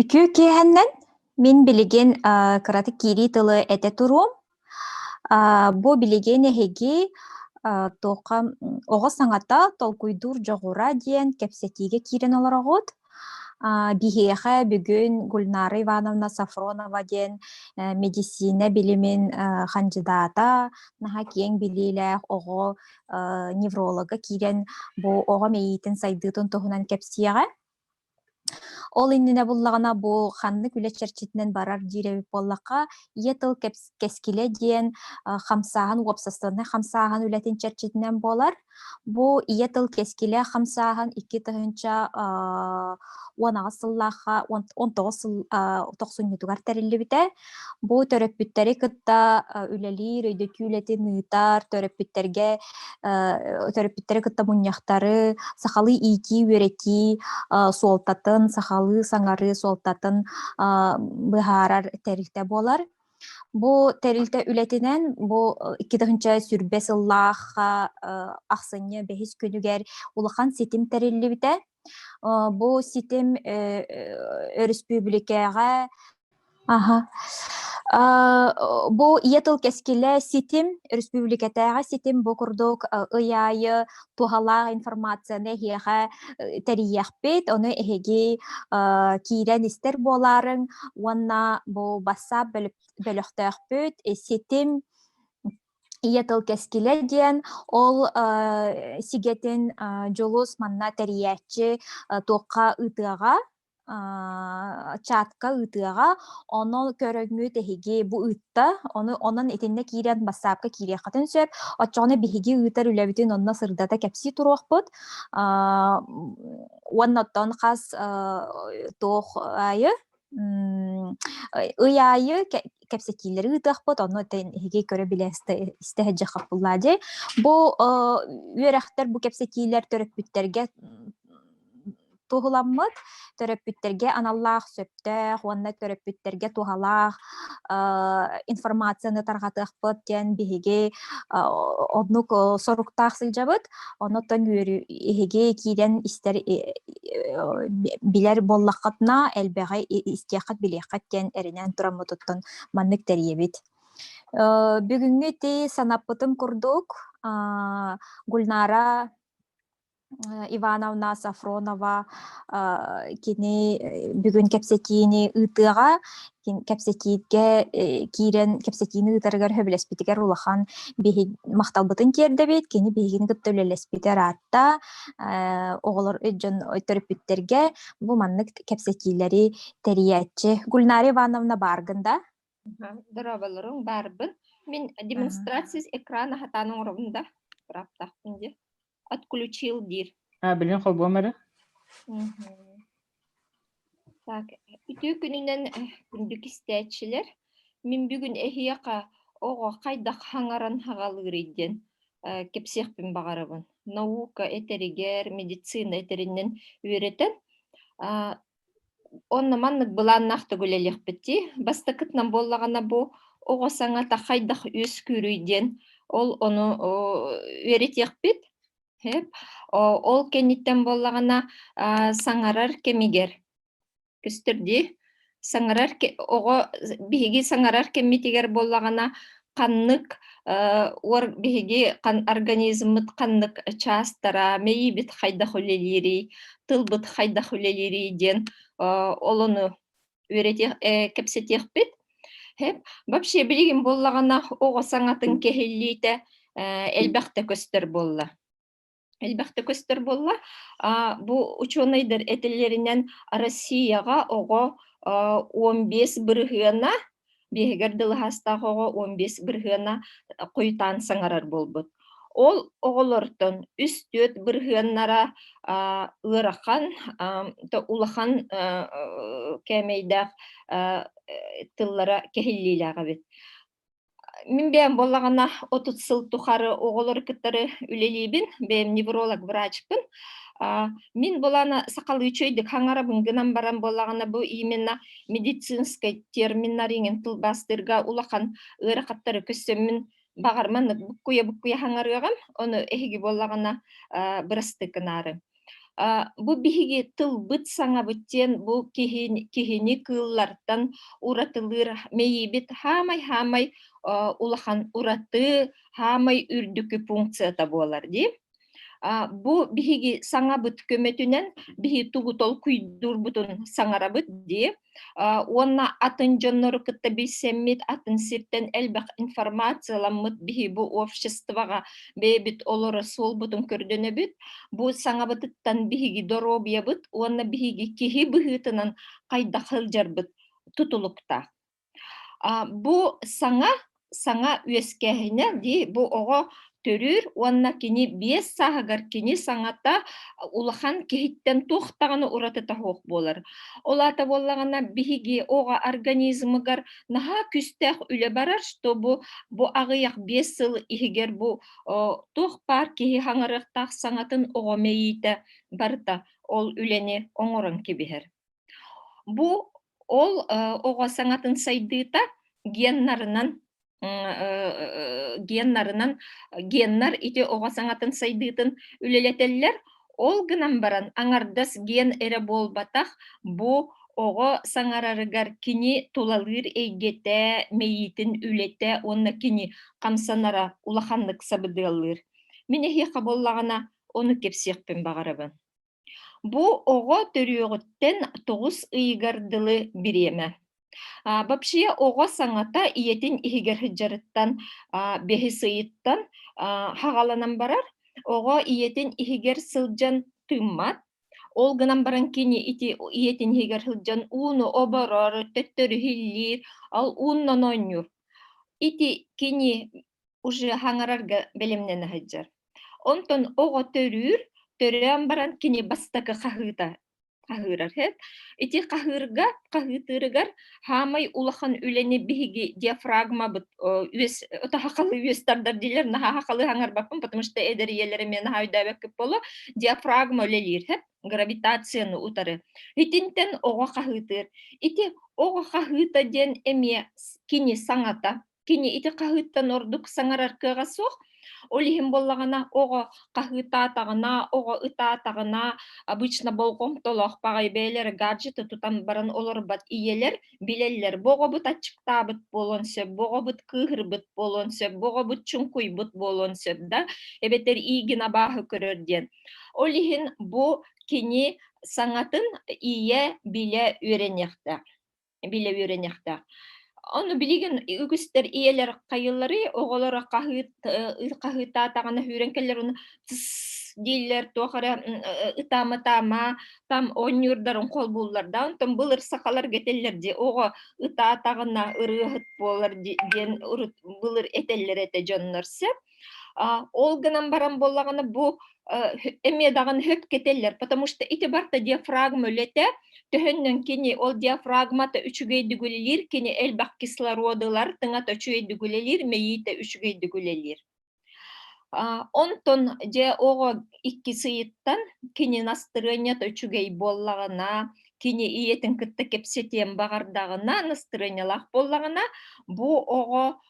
Үтүө киэһэннэн мин билигин аа кыратык киирии тылы этэ туруом. Аа бу билигин эһиги аа туохха оҕо саҥата толкуйдуур дьоҕура диэн кэпсэтиигэ киирэн олороҕут. Аа биһиэхэ бүгүн Гульнара Ивановна Софронова диэн э, мэдиссиинэ билимин э, хандьыдаата, наһаа киэҥ билиилээх оҕо э, невролога киирэн бу оҕо мэйиитин сайдыытын туһунан кэпсиэҕэ. Ол иннинэ буллаҕына бу ханнык үлэ чэрчитинэн барар диир эбит буоллахха, ийэ тыл кэпс кэскилэ диэн, а, хамсааһын, уопсастыбаннай хамсааһын үлэтин чэрчитинэн буолар. Бу ийэ тыл кэскилэ хамсааһын икки тыһыынча, а, уон аҕыс сыллаахха, он он тоҕус сыл, а, тохсунньутугар тэриллибитэ. Бу төрөппүттэри кытта үлэлиир, өйдөтүү үлэтин ыытар, төрөппүттэргэ төрөппүттэри кытта мунньахтары, сахалыы иитии, үөрэтии суолтатын, сахалыы саҥарыы суолтатын быһаарар тэрилтэ буолар. Бу тэрилтэ үлэтинэн бу икки тыһыынча сүрбэ сыллаах ахсынньы бэһис күнүгэр улахан ситим тэриллибитэ. Бу ситим өрөспүүбүлүкэҕэ бу ийэ тыл кэскилэ ситим өрөспүүбүлүкэтээҕи ситим бу курдук ый аайы туһалаах информацияны эһиэхэ тэрийиэхпит ону эһиги киирэн истэр буолаарыҥ уонна бу бассаап бөлөхтөөхпүт ситим ийэ тыл кэскилэ диэн ол э, сигэтин э, дьулус манна тэрийээччи э, туохха ыытыаҕа чатка ыытыаҕа ону көрөҥҥүт эһиги бу ыытта ону онон итиннэ киирэн бассаапка киириэххитин сөп оччоҕуна биһиги ыытар үлэбитин онно сырдата кэпсии туруохпут уонна оттон хас туох айы М, ый аайы кэ кэпсэтиилэри ыытыахпыт, онно этэн эһиги көрө-билэ истэ истэ сылдьыах хаппыллаа диэй. Бу, оо, үөрэхтэр бу кэпсэтиилэр төрөппүттэргэ, м, туһуламмыт. Төрөппүттэргэ аналлаах сөптөөх уонна төрөппүттэргэ туһалаах, аа, информацияны тарҕатыахпыт диэн биһиги, а, оннук, о соруктаах сылдьабыт. Онотон үөрүү иһиги киирэн истэр билэр буоллаххытына элбэҕи истиэххит билиэххит диэн эринэн тураммытыттан маннык тэрийэбит. бүгүҥҥү ти санаппытым курдук Гульнара Ивановна Сафронова кини бүгүн кэпсэтиини ыытыаҕа кэпсэтиигэ киирэн кэпсэтиини ыытарыгар сөбүлэспитигэр улахан биһиги махталбытын тиэрдэбит кини биһигини кытта үлэлэспитэ ыраатта оҕолор дьон төрөппүттэргэ бу маннык кэпсэтиилэри тэрийээччи Гульнара Ивановна бааргын да дорооболоруҥ баарбын мин демонстрация экрана хатаан оҥоробун да быраптаахпын дии отключил диир. А, билин холбуом эрэ. Так, үтүү күнүнэн күндүк истээччилэр, мин бүгүн эһиэхэ оҕо хайдах хаҥаран хагалыырый диэн кэпсиэхпин баҕарабын. Наука этэригэр, медицина этэринэн үөрэтэн, онно маннык былааннаахтык үлэлиэхпит дии бастакытынан буоллаҕына бу оҕо саҥата хайдах үөскүүрүй диэн ол ону үөрэтиэхпит ол кэнниттэн буоллаҕына саҥарар кэмигэр көстөр дии саҥарар оҕо биһиги саҥарар кэммитигэр буоллаҕына ханнык уор биһиги организммыт ханнык чаастара, мэйиибит хайдах үлэлиирий, тылбыт хайдах үлэлиирий диэн олону кэпсэтиэхпит. Вообще билигин буоллаҕына оҕо саҥатын кэһиллиитэ элбэхтэ көстөр буолла. элбэхтэ көстөр буолла бу учуонайдар этилэринэн россияҕа оҕо он бес бырыһыана биэһигэр дылыһаастаах оҕо он бес бырыһыана хойутаан саҥарар буолбут ол оҕолортон үс түөрт бырыһыаннара ыарахан улахан кээмэйдээх тыллара кэһиллиилээх эбит Мин бэйэм буоллаҕына отут сыл тухары оҕолору кытары үлэлиибин, бэйэм невролог врачпын. А, мин буолаана сахалыы үчүгэйдик хаҥарабын гынан баран буоллаҕына бу именно медицинскэй терминнэр иҥин тылбаастыырга улахан ыарахаттары көссөммүн баҕар маннык буккуйа-буккуйа хаҥарыаҕым, ону эһиги буоллаҕына а, бырастыы гынаары. Бу биһиги тылбыт саҥабыт диэн бу киһини, киһини кыыллартан уратылыыр мэйиибит хаамай-хаамай улахан ураты хаамай үрдүкү функцията буолар дии. Бу биһиги саҥабыт көмөтүнэн биһи тугу толкуйдуурбутун саҥарабыт дии. уонна атын дьоннору кытта билсэммит атын сиртэн элбэх информацияламмыт биһи бу обществоҕа бэйэбит олоро суолбутун көрдөнөбүт бу саҥабытыттан биһиги доруобуйабыт уонна биһиги киһи быһыытынан хайдах сылдьарбыт тутулуктаах бу саҥа саҥа үөскээһинэ дии бу оҕо төрүүр уонна кини биэс сааһыгар кини саҥата улахан киһиттэн туох даҕаны уратыта суох буолар. Ол аата буоллаҕына биһиги оҕо организмыгар наһаа күүстээх үлэ барар, чтобы бу аҕыйах биэс сыл иһигэр бу туох баар киһи хаҥарыахтаах саҥатын оҕо мэйиитэ барыта ол үлэни оҥорон кэбиһэр. Бу Ол оҕо саҥатын сайдыыта геннарынан геннарынан геннар ити оҕо саҥатын сайдыытын үлэлэтэллэр. Ол гынан баран аҥардас ген эрэ буолбатах бу оҕо саҥарарыгар кини тулалыыр эйгэтэ, мэйиитин үлэтэ уонна кини хамсанара улаханнык сабыдыаллыыр. Мин эһиэхэ буоллаҕына, ону кэпсиэхпин баҕарабын. Бу оҕо төрүөҕүттэн тоҕус ыйыгар дылы бириэмэ. А, вообще оҕо саҥата ийэтин иһигэр сыдьарыттан а, бэһис ыйыттан а, хаҕаланан барар. Оҕо ийэтин иһигэр сылдьан тыыммат. Ол гынан баран кини ити ийэтин иһигэр сылдьан ууну оборор, төттөрү иһиллиир, ал ууннан оонньуур. Ити кини уже хаҥарарга бэлэмнэнэ сылдьар. Онтон оҕо төрүүр, төрөөн баран кини бастакы хаһыыта хаһыырар эт. Ити хаһыырга, хаһыытырыгар хаамай улахан үлэни биһиги диафрагмабыт үөс отахахалы үөс тардар дилер наһахахалы хаҥарбаппын, потому что эдэр ийэлэрим мен хаайдаабаккып боло диафрагма үлелиир хэп гравитацияны утары. Итинтен оҕо хаһыытыр. Ити оҕо хаһыыта диэн эмиэ кини саҥата Кини ити хаһыыттан ордук саҥарар кыаҕа суох. Ол иһин буоллаҕына оҕо хаһыытаатаҕына, оҕо ытаатаҕына, обычно болҕомтолоох баҕайы бэйэлэрэ гаджеты тутан баран олорбот ийэлэр билэллэр, бу оҕобут аччыктаабыт буолуон сөп, бу оҕобут кыыһырбыт буолуон сөп, бу оҕобут чуҥкуйбут буолуон сөп да, эбэтэр иигин абааһы көрөр диэн. Ол иһин бу кини саҥатын ийэ билэ үөрэниэхтээх. билэ үөрэнэхтээх. Ону билигин үгүстэр ийэлэр хайыллары оҕолор хаһыытаатаҕына хүрэн кэллэр уну дииллэр туох эрэ ытаама таама там оонньуурдарын хол буллар да онтон былыр сахалар гэтеллер ди оҕо ытаатаҕына ырыаһыт буолар диэн урут былыр этэллэр этэ дьоннор сөп Ол гынан баран боллаҕына бу эмиэ даҕаны хөп кетеллер, потому что ити барта диафрагма үлэтэ, төһөннөн кини ол диафрагмата үчүгэйдик үлэлиир, кини элбэх кислородылар тыҥата үчүгэйдик үлэлиир, мэйиитэ үчүгэйдик үлэлиир. Онтон дьэ оҕо иккис ыйыттан кини настроениета үчүгэй буоллаҕына, кини ийэтин кытта кэпсэтиэн баҕардаҕына, настроениялаах буоллаҕына, бу оҕо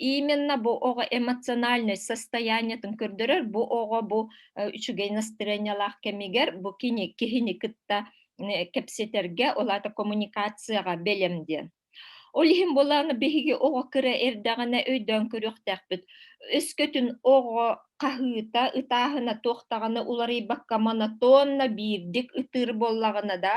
именно бу оҕо эмоциональнай состояниетын көрдөрөр бу оҕо бу үчүгэй настроениялаах кэмигэр бу кини киһини кытта кэпсэтэргэ ол аата коммуникацияҕа бэлэм диэн ол иһин буолааны биһиги оҕо кыра эрдэҕинэ өйдөөн көрүөхтээхпит өскөтүн оҕо хаһыыта ытааһына туохтаҕына уларыйбакка монотонно биирдик ытыыр буоллаҕына да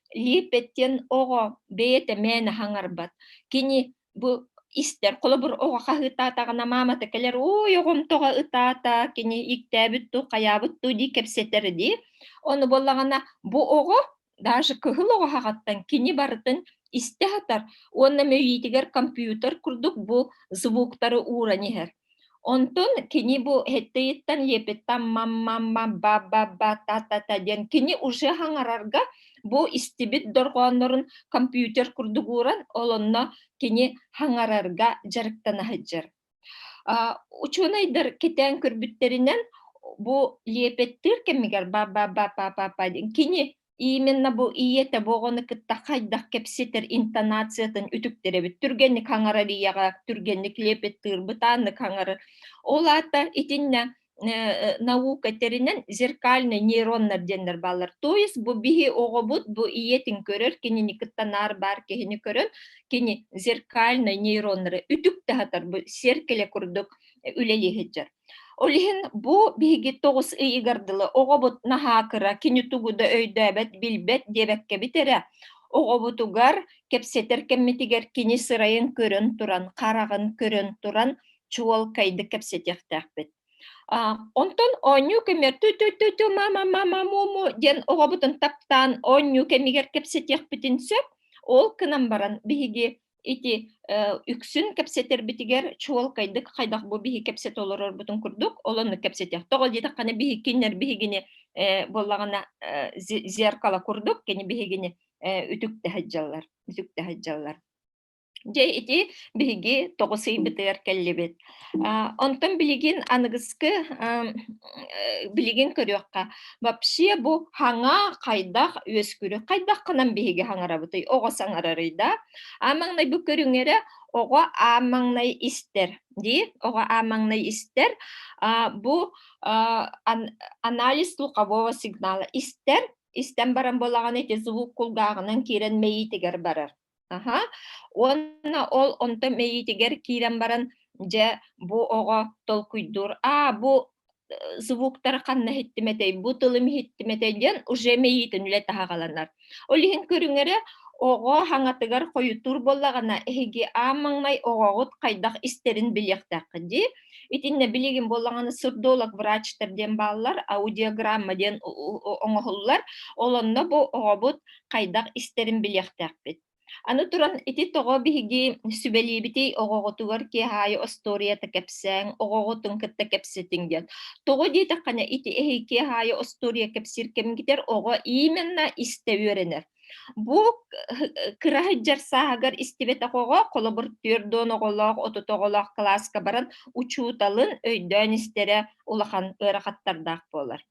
лииппэт диэн оҕо бэйэтэ мээнэ хаҥарбат кини бу истэр холобур оҕо хаһыытаатаҕына маамата кэлэр ой оҕом тоҕо ытаата кини иктээбит дуу хайаабыт дуу дии кэпсэтэр дии ону буоллаҕына бу оҕо даже кыһыл оҕо хаҕаттан кини барытын истэ сатар уонна мөйүүтүгэр компьютер курдук бу звуктары ууран иһэр Онтун кини бу хеттейиттан епеттан мам-мам-мам ба-ба-ба та-та-та диэн кини уже хаҥарарга бу истибит дорҕооннорун компьютер курдук ууран олонно кини хаҥарарга дьарыктана сылдьар. Учуонайдар кэтээн көрбүттэринэн бу лиэпэттиир кэмигэр ба-ба-ба-па-па диэн кини именно бу ийэтэ боҕону кытта хайдах кэпсэтэр интонациятын үтүктэрэбит түргэнник хаҥарарыйаҕа түргэнник лепеттыырбыт ааны хаҥары ол аата итиннэ наука тэринэн зеркальный нейроннар диэннэр бааллар то есть бу биһи оҕобут бу ийэтин көрөр кинини кытта наар баар киһини көрөн кини зеркальный нейроннары үтүк таһатар бу серкеле курдук үлэлиһиджар Ол иһин бу биһиги тоҕус ыйыгар дылы оҕобут наһаа кыра, кини тугу да өйдөөбөт, билбэт диэбэккэбит эрэ, оҕобутугар кэпсэтэр кэммитигэр кини сырайын көрөн туран, хараҕын көрөн туран чуолкайдык кэпсэтиэхтээхпит. А, онтон оонньуу кэмигэр ту-ту-ту-ту мама-мама-му диэн оҕобутун таптаан оонньуу кэмигэр кэпсэтиэхпитин сөп. Ол гынан баран биһиги Ити үксүн кэпсэтэрбитигэр чуолкайдык хайдах бу биһи кэпсэтэ олорорбутун курдук олоннук кэпсэтиэх. Тоҕо диэтэххинэ биһиккиннэр биһигини буоллаҕына зеркало курдук кини биһигини үтүктэһэ дьаллар үтүктэһэ дьаллар. Дьэ ити биһиги тоҕус ыйбытыгар кэллибит Онтон билигин аныгыскы билигин көрүөххэ вообще бу хаҥа хайдах үөскүүрү хайдах кынан биһиги хаҥарабытый оҕо саҥарарый да а маҥнай бу көрүҥэрэ оҕо а маҥнай истэр дии оҕо а маҥнай истэр бу анализ слухового сигнала истэр истэн баран буолаҕына ити звук кулгааҕынан киирэн мэйиитигэр барар Аһа. Уонна ол онто мэйиитигэр киирэн баран, дьэ, бу оҕо толкуйдуур: "Аа, бу, э, звуктар ханна иһиттим этэй, бу тылым иһиттим этэй" диэн уже мэйиитин үлэ таһаҕаланар. Ол иһин көрүҥэрэ оҕо хаҥатыгар хойутуур буоллаҕына, эһиги аан маҥнай оҕоҕут хайдах истэрин билиэхтээххит дии. Итиннэ билигин боллаҕаны сырдолог врачтар диэн бааллар, аудиограмма диэн оҥоһуллар. Олонно бу оҕобут хайдах истэрин билиэхтээхпит. Аны туран, ити тоҕо биһиги сүбэлиибитий оҕоҕутугар киэһаайы остуоруйата кэпсээҥ, оҕоҕутун кытта кэпсэтиҥ диэн. Тоҕо диэтэххинэ, ити эһи киэһаайы остуоруйа кэпсиир кэмгитэр оҕо именно истэ үөрэнэр. Бу кыра сылдьар сааһыгар истибэтэх оҕо, холобур, түөрт оҕолоох, отут оҕолоох кылааска баран учууталын өйдөөн истэрэ улахан ыарахаттардаах буолар.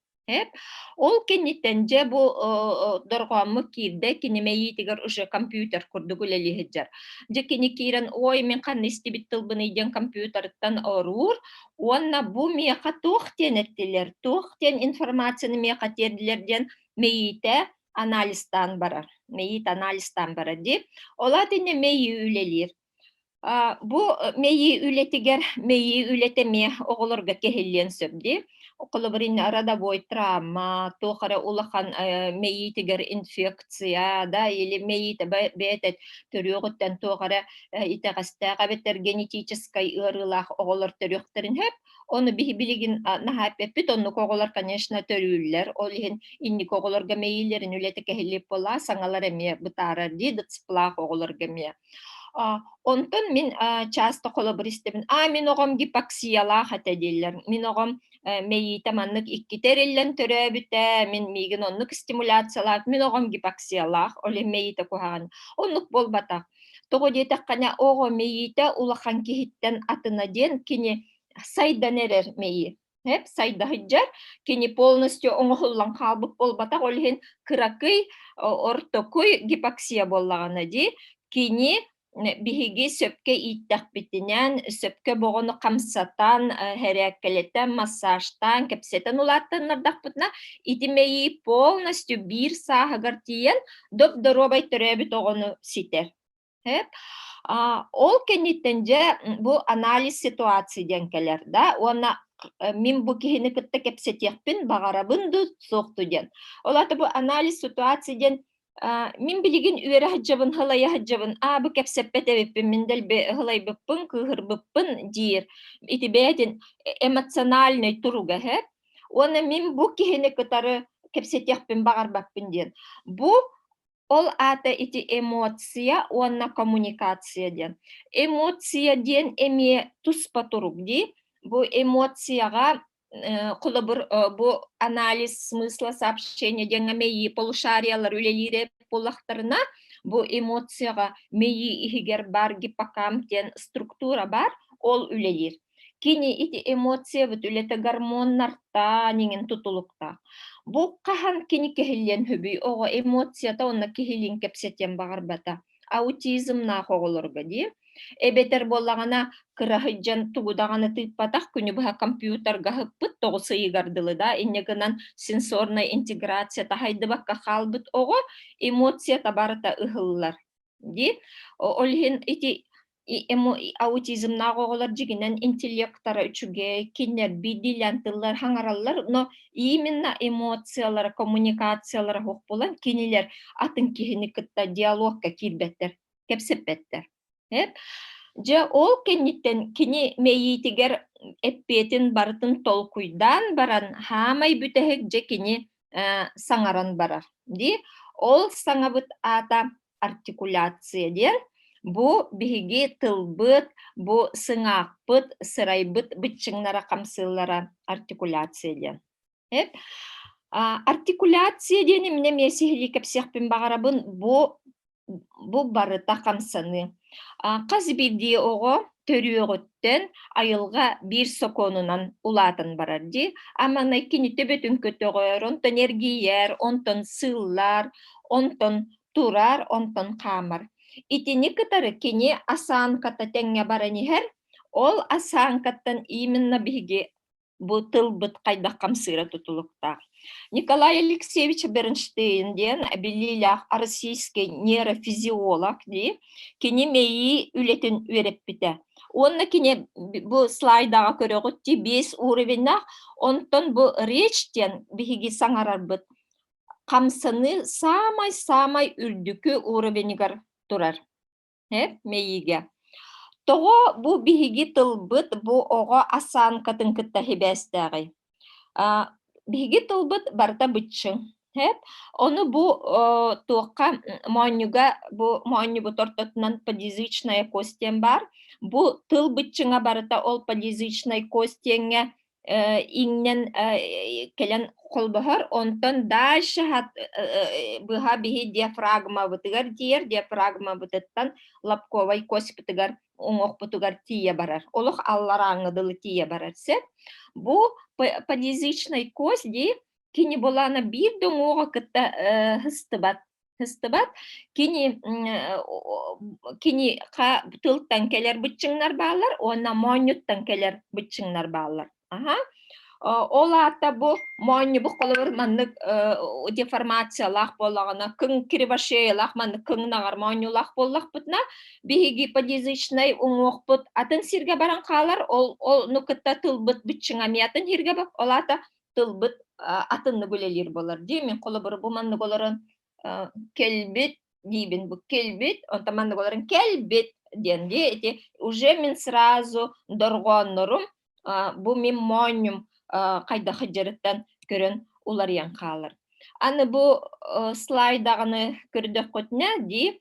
Ол кэнниттэн дьэ бу дорҕооммут киирдэ, кини мэйиитигэр уже компьютер курдук үлэлии сылдьар. Дьэ кини киирэн, ой, мин ханна истибит тылбыный диэн компьютерыттан оруур уонна бу миэхэ туох диэн эттилэр, туох диэн информацияны миэхэ тиэрдилэр диэн мэйиитэ анализтаан барар мэйит анализтаан барар дии ол аат иннэ мэйи үлэлиир бу мэйи үлэтигэр мэйи үлэтэ эмиэ оҕолорго кэһиллиэн сөп дии холобур иннэ родовой травма туох эрэ улахан мэйиитигэр инфекция да или мэйиитэ бэйэтэ төрүөҕүттэн туох эрэ итэҕэстээх эбэтэр генетическэй ыарыылаах оҕолор төрүөхтэрин сөп Оны билигин наһаа эппеппит, оннук оҕолор, конечно, төрүүллэр. Ол иһин инники оҕолорго мэйиилэрин үлэтэ кэһиллип була, саҥалар эмиэ бытаарар дии, дыцплаах оҕолорго эмиэ. Онтон мин часто холобур истэбин, аа мин оҕом гипоксиялаах этэ дииллэр. Мин оҕом мэйиитэ маннык иккитэ эриллэн төрөөбүтэ, мин миигин оннук стимуляциялаах, мин оҕом гипоксиялаах, ол иһин мэйиитэ куһаҕан. Оннук буолбатах. Тоҕо диэтэххинэ, оҕо мэйиитэ улахан киһиттэн атына диэн кини сайдан эрэр мэйи. Эп сайдаһыджар, кини полностью оҥоһуллан хаалбыт буолбатах, ол иһин кыракый, ортокуй гипоксия буоллаҕына дии, кини биһиги сөпкө ииттэхпитинэн, сөпкө боҕону хамсатан, хэрээккэлэтэн, массажтаан, кэпсэтэн улааттаннардахпытына, ити мэйии полностью биир сааһыгар тиийэн доп-доруобай төрөөбүт оҕону ситэр. Ол кэнниттэн дьэ бу анализ ситуации диэн кэлэр да уонна мин бу киһини кытта кэпсэтиэхпин баҕарабын дуу суох дуу диэн. Ол аата бу анализ ситуации диэн мин билигин үөрэ сылайа сылайаһыддьабын аа бу кэпсэппэт эбиппин мин дэлби ыһылайбыппын кыыһырбыппын диир ити бэйэтин эмоциональный туруга Уонна мин бу киһини кытары кэпсэтиэхпин баҕарбаппын диэн. Бу ол аата ити эмоция уонна коммуникация диэн. Эмоция диэн эмиэ туспа турук дии. Бу эмоцияҕа холобур бу анализ смысла сообщения диэн мэйии полушариялар үлэлиирэ буоллахтарына бу эмоцияҕа мэйии иһигэр бар гиппокамп диэн структура бар ол үлэлиир. Кини ити эмоциябыт үлэтэ гормоннартан иҥин тутулуктаах. Бу хаһан кини кэһиллиэн хөбүй оҕо эмоцията уонна киһилиин кэпсэтиэн баҕарбата аутизмнаах оҕолорго дии эбэтэр буоллаҕына кыраһыйдьан тугу даҕаны тыыппатах күнү быһа компьютерга ыһыппыт тоҕус ыйыгар дылы да инньэ гынан сенсорнай интеграция таһайдыбакка хаалбыт оҕо эмоцията барыта ыһыллар дии ол иһин ити аутизмнаах оҕолор дьигинэн интеллектара үчүгэй кинилэрби дилян тыллар хаҥараллар но именно эмоциялара коммуникациялара ох булан кинилер атын киһини кытта диалогка киирбэттэр кэпсэппэттэр дьэ ол кэнниттэн кини мэйиитигэр эппиэтин барытын толкуйдаан баран хаамай бүтэһик дьэ кини саҥаран барар дии ол саҥабыт аата артикуляция диэн бу биһиги тылбыт, бу сыҥаахпыт, сырайбыт быччыҥнара хамсыыллара артикуляция диэн. Артикуляция диэн эмне эмиэ сиһилии кэпсиэхпин баҕарабын бу бу барыта хамсаныы. Хас бирдии оҕо төрүөҕүттэн айылга биир сокуонунан улаатан барар дии. Аманай кини төбөтүн көтөҕөр, онтон эргийэр, онтон сыыллар, онтон турар, онтон хаамар. Итини кытары кини осанката тэҥҥэ баран иһэр, ол осанкаттан именно биһиги бу тылбыт хайдах хамсыыра тутулуктаах. Николай Алексеевич Бернштейн диэн билиилээх российский нейрофизиолог дии, кини мэйии үлэтин үөрэппитэ. Уонна кини бу слайдаҕа көрөҕүт дии, биэс уровеннаах, онтон бу речь диэн биһиги саҥарарбыт хамсаныы саамай-саамай үрдүкү уровенигар турар. Э, мэйиигэ. Тоҕо бу биһиги тылбыт бу оҕо осанкатын кытта хибээстээҕий? биһиги тылбыт барыта быччыҥ. Эп, ону бу туохха моонньуга бу моонньубут ортотунан подъязычная кость диэн баар. Бу тыл быччыҥа барыта ол подъязычной костиҥҥэ иҥнэн кэлэн холбоһор, онтон дальше быһа биһи диафрагмабытыгар тиийэр, диафрагмабытыттан лобковай коспутугар оҥохпутугар тиийэ барар. Олох алларааҥҥа дылы тиийэ барар сөп. Бу подъязычный кость дии кини булаана биир да уҥуоҕа кытта сыстыбат Кыстыбат. Кини кини ха тылтан кэлэр быччыҥнар бааллар уонна моонньуттан кэлэр быччыҥнар бааллар. Аһа. Ол аата бу моонньубук холобур маннык деформациялаах буоллаҕына кыҥ кривошеялаах маннык кыҥнаҕар моонньуулаах буоллахпытына биһиги подъязычнай уҥуохпут атын сиргэ баран хаалар ол ол ну кытта тылбыт быччыҥ эмиэ атын сиргэ ол аата тылбыт атыннык үлэлиир болар дии мин холобур бу маннык олорон кэлбит диибин бу кэлбит онтон маннык олорон кэлбит диэн дии эти уже мин сразу дорҕооннорум бу мин моонньум хайдах дьарыктан көрөн уларыйан хаалар аны бу слайдаҕаны көрдөххүтүнэ дии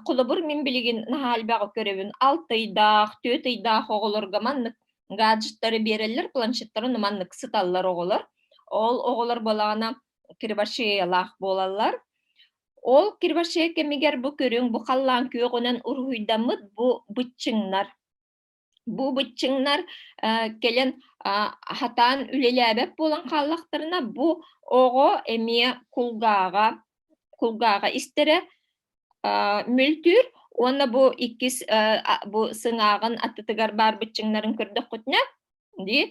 холобур мин билигин наһаа элбэҕи көрөбүн алты ыйдаах төрт ыйдаах оҕолорго маннык гаджеттары биэрэллэр планшеттарын маннык сыталлар оҕолор ол оҕолор буолаҕына кривошеялаах буолаллар ол кривошея кэмигэр бу көрүҥ бу халлаан күөҕүнэн уруһуйдаммыт бу быччыҥнар бу быччыҥнар кэлэн хатаан үлэлээбэт буолан хааллахтарына бу оҕо эмиэ кулгааҕа кулгааҕа истэрэ мөлтүүр уонна бу иккис бу сыҥааҕын аттытыгар баар быччыҥнарын көрдөххүтүнэ дии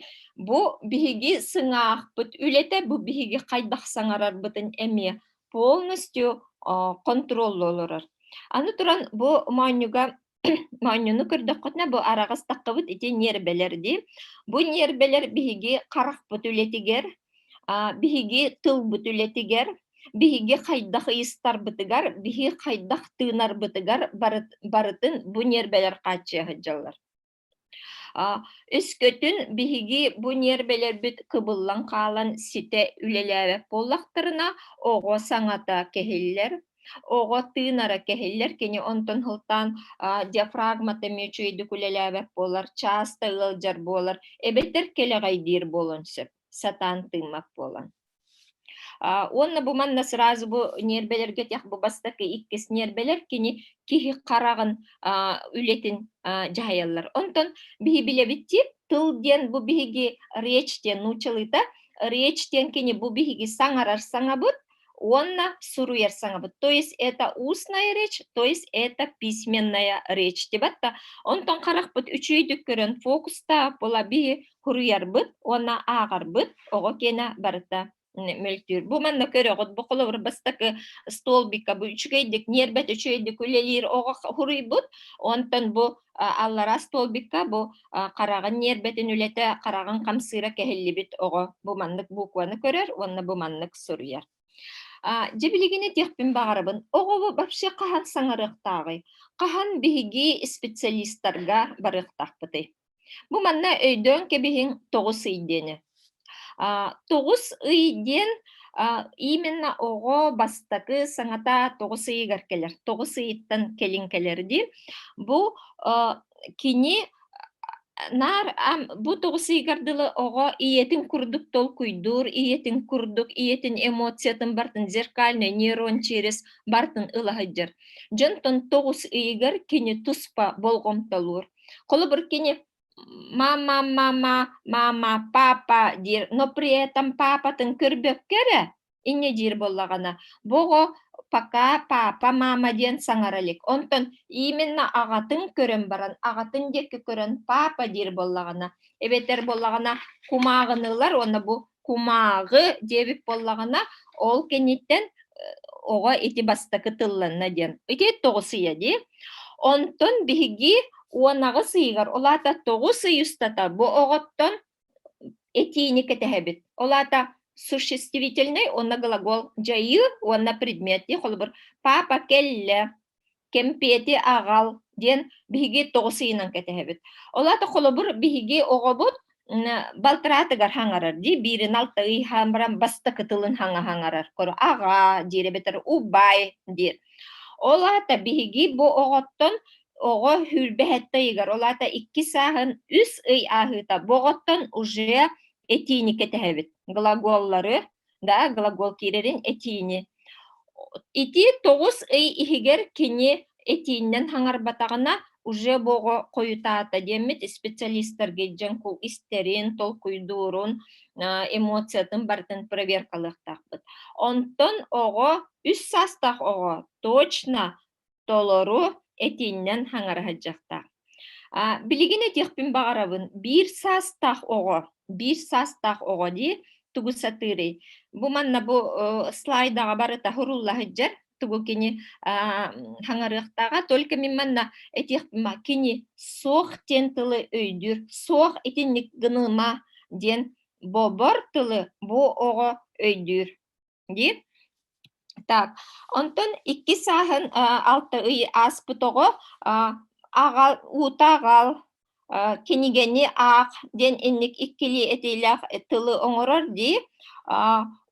бу биһиги сыҥаахпыт үлэтэ бу биһиги хайдах саҥарарбытын эмиэ полностью контроллу олорор аны туран бу моонньуга моонньуну көрдөххүтүнэ бу араҕастаххыбыт ити ньиэрбэлэр дии бу ньиэрбэлэр биһиги харахпыт үлэтигэр биһиги тылбыт үлэтигэр биһиги хайдах ыйыстарбытыгар биһи хайдах тыынарбытыгар барытын бу ньиэрбэлэр хааччыйа сылдьаллар Өскөтүн биһиги бу ньиэрбэлэрбит кыбыллан хаалан ситэ үлэлээбэт буоллахтарына, оҕо саҥата кэһиллэр, оҕо тыынара кэһиллэр, кини онтон сылтаан диафрагмата мүчүөйдүк үлэлээбэт буолар, чааста ыалдьар буолар, эбэтэр кэлэҕэйдиир буолуон сөп, сатаан тыыммат буолан. Уонна бу манна сразу бу ньиэрбэлэргэ тиэх бу бастакы иккис ньиэрбэлэр кини киһи хараҕын үлэтин дьаһайаллар. Онтон биһи билэбиттиир тыл диэн бу биһиги речь диэн нуучалыыта речь диэн кини бу биһиги саҥарар саҥабыт уонна суруйар саҥабыт. То есть это устная речь, то есть это письменная речь. Дебатта. Онтон харахпыт үчүйдүк көрөн фокустаап була биһи куруйарбыт уонна ааҕарбыт оҕо киэнэ барыта мөлтүүр. Бу манна көрөҕүт, бу холобур бастакы столбика бу үчүгэйдик, ньиэрбэт үчүгэйдик үлэлиир оҕо хуруйбут, онтон бу аллараа столбика бу хараҕын ньиэрбэтин үлэтэ, хараҕын хамсыыра кэһиллибит оҕо бу маннык букваны көрөр уонна бу маннык суруйар. Дьэ билигини диэхпин баҕарабын, оҕо вообще хаһан саҥарыахтааҕый? Хаһан биһиги специалистарга барыахтаахпытый? Бу манна өйдөөн кэбиһиҥ тоҕус ый диэни. Тоҕус ый диэн именно оҕо бастакы саҥата тоҕус ыйыгар кэлэр. Тоҕус ыйыттан кэлин кэлэр дии. Бу кини наар бу тоҕус ыйыгар дылы оҕо ийэтин курдук толкуйдуур, ийэтин курдук, ийэтин эмоциятын бартын зеркальный нейрон через бартын ылаһыдьар. Дьонтон тоҕус ыйыгар кини туспа болҕомтолуур. Холобур, кини мама, мама, мама, папа диир, но при этом папатын көрбөккө эрэ инньэ диир буоллаҕына, бу оҕо пока папа, мама диэн саҥара илик. Онтон именно аҕатын көрөн баран, аҕатын диэки көрөн папа диир буоллаҕына, эбэтэр буоллаҕына кумааҕыныылар уонна бу кумааҕы диэбит буоллаҕына ол кэнниттэн оҕо ити бастакы тылланна диэн ити тоҕус ыйа дии онтон биһиги уонаҕыс ыйыгар ол аата тоҕус ый устата бу оҕоттон этиини кэтэһэбит ол аата существительный уонна глагол дьайыы уонна предмети холобур папа кэллэ кэмпиэти аҕал диэн биһиги тоҕус ыйынан кэтэһэбит. Олата холобур биһиги оҕобут балтыраатыгар хаҥарар дии биирин алта ый хаамаран бастакы тылын хаҥа хаҥарар кору аҕа диэри бэтэр убай диир ол аата биһиги бу оҕоттон оҕо хүрбэһэтте ыйыгар ол аата икки сааһын үс ый ааһыыта бу оҕоттон уже этиини кэтэһэбит глаголлары да, глагол киирэрин этиини. Ити тоҕус ый иһигэр кини этииннэн хаҥарбатаҕына уже бого хойутаата диэммит специалистарга дьоҥкул истэрин, толкуйдуурун, эмоциятын барытын проверкалыахтаахпыт. Онтон оҕо, үс саастаах оҕо точно толору этииннэн хаҥара сылдьахтаах. Билигин этиэхпин баҕарабын биир саастаах оҕо, биир саастаах оҕо дии тугу сатыырый? Бу манна бу слайдаҕа барыта хурулла сылдьар тугу кини хаҥарыахтааҕа только мин манна этиэхпин кини суох диэн тылы өйдүүр суох итинник гыныма диэн бобор тылы бу оҕо өйдүүр диир. Так, онтон икки сааһын алта ый ааспыт оҕо аҕал уута аҕал кинигени аах диэн инник иккилии этиилээх тылы оҥорор дии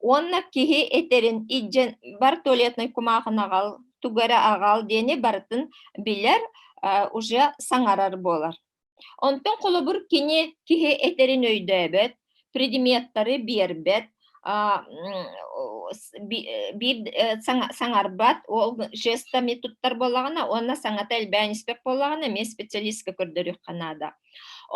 уонна киһи этэрин иддьэн бар туалетной кумаахын аҕал тугу эрэ аҕал диэни барытын билэр уже саҥарар буолар Онтон холобур кини киһи этэрин өйдөөбөт, предметтары биэрбэт, биир саҥарбат, ол жестами туттар буоллаҕына уонна саҥата элбээн испэт буоллаҕына эмиэ специалистка көрдөрүөххэ наада.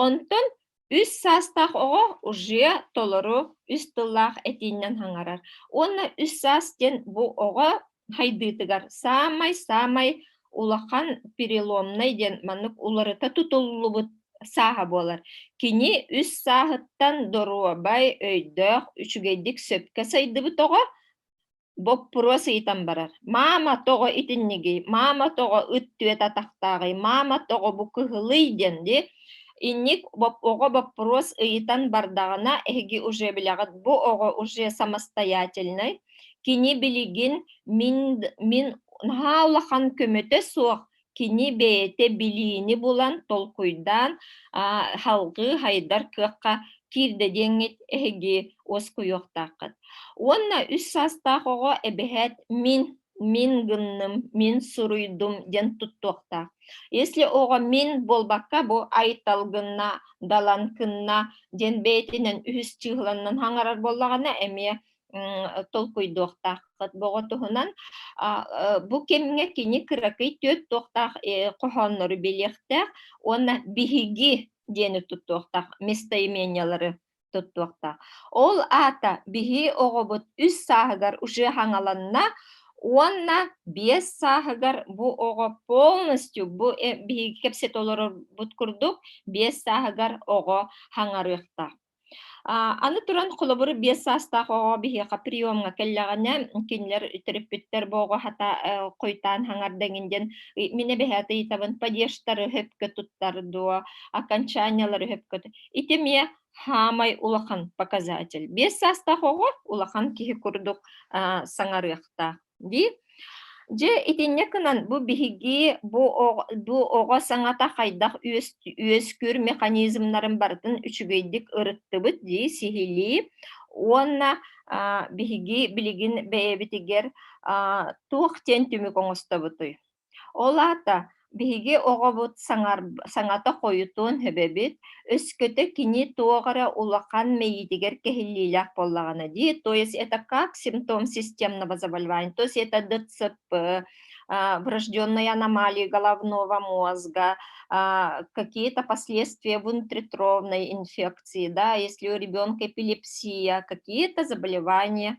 Онтон үс саастаах оҕо уже толору үс тыллаах этииннэн хаҥарар. Уонна үс саас диэн бу оҕо хайдыытыгар саамай-саамай улахан переломнай диэн маннык уларыта тутуллубут сааһа буолар. Кини үс сааһыттан доруобай, өйдөөх, үчүгэйдик сөпкө сайдыбыт оҕо, боппуруос ыйытан барар. Маама тоҕо итинниги, маама тоҕо ыт түөт атахтааҕый, маама тоҕо бу кыһылый диэн ди, инник оҕо боппуруос ыйытан бардаҕына, эһиги уже билэҕит, бу оҕо уже самостоятельный, Кини билигин мин, мин наһаа улахан көмөтө суох кини бэйэтэ билиини булан, толкуйдаан, салгыы хайдар кыахха киирдэ диэҥҥит эһиги уоскуйуохтааххыт. Уонна үс саастаах оҕо эбэһээт мин, мин гынным, мин суруйдум диэн туттуохтаах. Если оҕо мин буолбакка бу айтал гынна, далан кынна диэн бэйэтинэн үһүс чыыланнан хаҥарар буоллаҕына эмиэ толкуйдуохтааххыт боҕотуһунан бу кэмҥэ кини кыракый түөрт туохтаах хоһооннору билиэхтээх уонна биһиги диэни туттуохтаах местоимениялары туттуохтаах ол аата биһи оҕобут үс сааһыгар уже хаҥаланна уонна биэс сааһыгар бу оҕо полностью бу биһиги кэпсэт олорорбут курдук биэс сааһыгар оҕо хаҥарыахтаах Аны туран, холобур, биэс саастаах оҕо биһиэхэ приемҥа кэллэҕинэ, кинилэр төрөппүттэр боҕуһата хойтаан хаҥарда эҥин диэн мин эбэһээтэ ыйытабын падежтары хөпкө туттар дуо, окончаниялары хөпкө Ити эмиэ хаамай улахан показатель. Биэс саастаах оҕо улахан киһи курдук саҥарыахтаах. Дии. Дьэ, итиннэ кынан бу биһиги бу оҕо, бу оҕо саҥата хайдах үөскүүр механизмнарын барытын үчүгэйдик ырыттыбыт дии сиһилии уонна биһиги билигин бэйэбитигэр туох диэн түмүк оҥостобутуй? Ол аата биһиги оҕобут саҥата хойутуон сөбөбүт, өскөтө кини туох эрэ улахан мэйиитигэр кэһиллиилээх буоллаҕына дии. То есть это как симптом системного заболевания, то есть это ДЦП, врожденные аномалии головного мозга, какие-то последствия внутритровной инфекции, да, если у ребенка эпилепсия, какие-то заболевания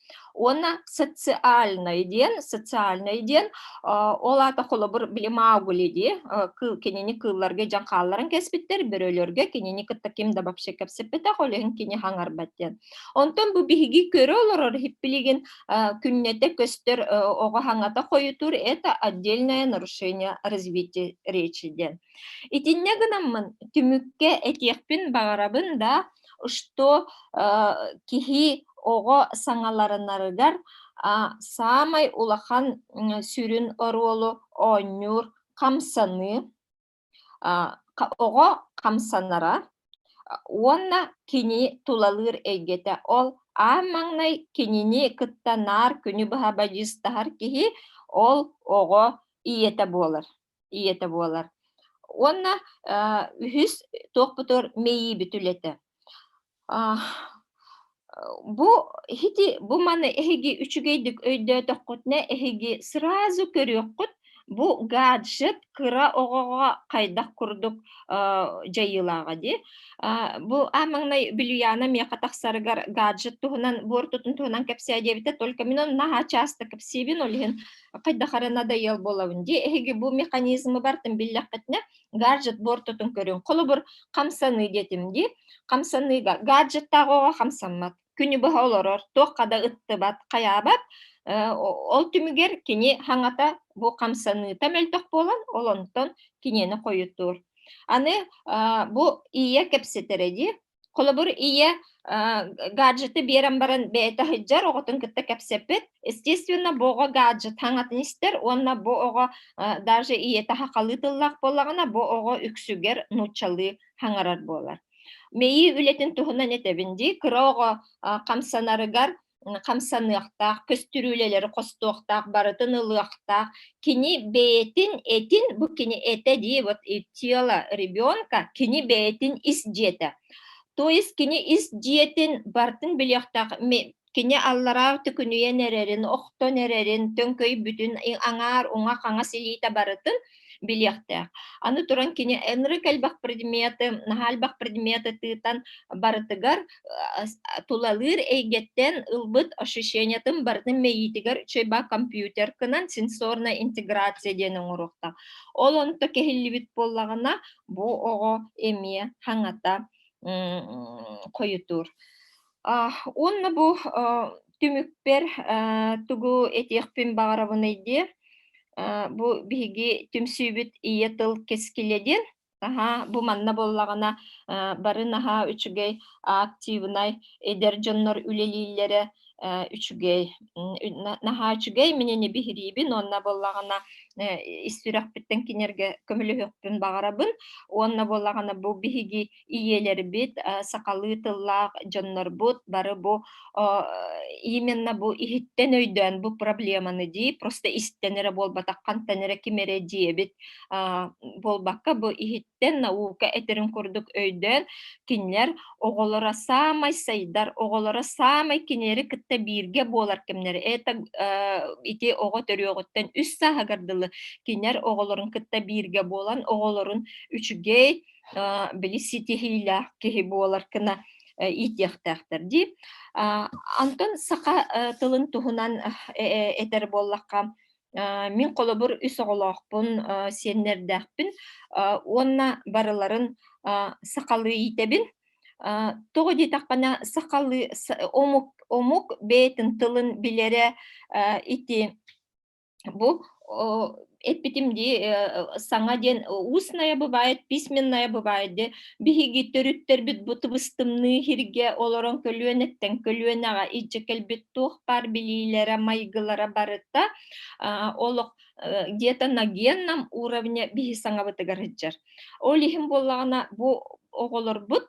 Уонна социальный диэн, социальный диэн, ол аата холобур били маугули дии, кинини кыылларга дьон хаалларан кэспиттэр, бөрөлөргө кинини кытта ким да вообще кэпсэппэтэх, ол иһин кини хаҥарбат диэн. Онтон бу биһиги көрө олорор хиппилигин күннэтэ көстөр оҕо хаҥата хойутуур, это отдельное нарушение развития речи диэн. Итиннэ гынаммын түмүккэ этиэхпин баҕарабын да что киһи оҕо саҥаларынарыгар саамай улахан сүрүн оруолу оонньуур хамсаныы оҕо хамсанара уонна кини тулалыыр эйгэтэ ол аа маҥнай кинини кытта наар күнү быһа бадьыыстаһар киһи ол оҕо ийэтэ буолар ийэтэ буолар. Уонна үһүс туохпутур мэйиибит үлэтэ. Бу хити бу маны эһиги үчүгэйдик өйдөөтөххүтүнэ эһиги сразу көрүөххүт бу гаджет кыра оҕоҕо хайдах курдук дьайыылааҕа дии бу аамаҥнай бүлүйаана миэхэ тахсарыгар гаджет туһунан буортутун туһунан кэпсээ диэбитэ только мин ону наһаа часто кэпсиибин ол иһин хайдах эрэ надоел буолабын дии эһиги бу механизмы бартын биллэххитинэ гаджет бортутун көрүҥ холобур хамсаныы диэтим дии хамсаныыга гаджеттааҕыга хамсаммат күнү быһа олорор туохха да ыттыбат хайаабат ол түмүгэр кини хаҥата бу хамсаныыта мөлтөх буолан олонтон кинини хойутуур аны бу ийэ кэпсэтэрэ дии Холобур, ийэ гаджеты биэрэн баран бэйэтэ сылдьар, оҕотун кытта кэпсэппит. Естественно, бу оҕо гаджет хаҥатын истэр уонна бу оҕо даже ийэтэ хахалыы тыллаах буоллаҕына, бу оҕо үксүгэр нууччалыы хаҥарар буолар. Мэйии үлэтин туһунан этэбин дии, кыра оҕо хамсанарыгар хамсаныахтаах, көстүрүүлэлэри хостуохтаах, барытын ылыахтаах. Кини бэйэтин этин, бу кини этэ дии, вот и тело ребенка, кини бэйэтин ис дьиэтэ. То есть кини ис дьиэтин бартын билиэхтээх кини аллараа түкүнүйэн эрэрин, охтон эрэрин, төҥкөй бүтүн аҥаар уҥа хаҥас илиитэ барытын билиэхтээх. Аны туран кини энры кэлбэх предмети, наһаалбах предмети тыытан барытыгар тулалыыр эйгэттэн ылбыт ощущениятын барытын мэйиитигэр чөйба компьютер кынан сенсорная интеграция диэн оҥоруохтаах. Ол онто кэһиллибит буоллаҕына бу оҕо эмиэ хаҥата хойутуур. А, уонна бу э, түмүкпэр э, тугу этиэхпин баҕарабыный диир. Э, бу биһиги түмсүүбүт ийэ тыл кэскилэ диэн. Аһа, бу манна буоллаҕына э, бары наһаа үчүгэй активнай эдэр дьоннор үлэлииллэрэ э, үчүгэй. Наһаа үчүгэй минини биһириибин уонна буоллаҕына э, ис сүрэхпиттэн кинерге көмөлөһүөхпүн баҕарабын. Уонна буоллаҕына бу биһиги ийэлэрбит, сахалыы тыллаах дьоннорбут бары бу именно бу иһиттэн өйдөөн бу проблеманы дии просто истэн эрэ буолбатах хантан эрэ ким эрэ диэбит буолбакка бу иһиттэн наука этэрин курдук өйдөөн кинилэр оҕолоро саамай сайдар оҕолоро саамай кинилэри кытта бииргэ буолар кэмнэр это ити оҕо төрүөҕүттэн үс сааһыгар дылы кинилэр оҕолорун кытта бииргэ буолан оҕолорун үчүгэй били ситиһиилээх киһи буолар кына иитиэхтээхтэр дии. Антон саха тылын туһунан этэр буоллахха, мин холобур үс оҕолоохпун, сиэннэрдээхпин уонна барыларын сахалыы иитэбин. Тоҕо диэтэхпинэ сахалыы омук омук бэйэтин тылын билэрэ ити Бу эппитим дии саҥа диэн устная бывает письменная бывает де биһиги төрүттэрбит бу тыбыстымныы иһиргэ олорон көлүөнэттэн көлүөнэҕэ илдьэ кэлбит туох баар билиилэрэ майгылара барыта олох где-то на генном уровне биһи саҥабытыгар ыдьар ол иһин буоллаҕына бу оҕолорбут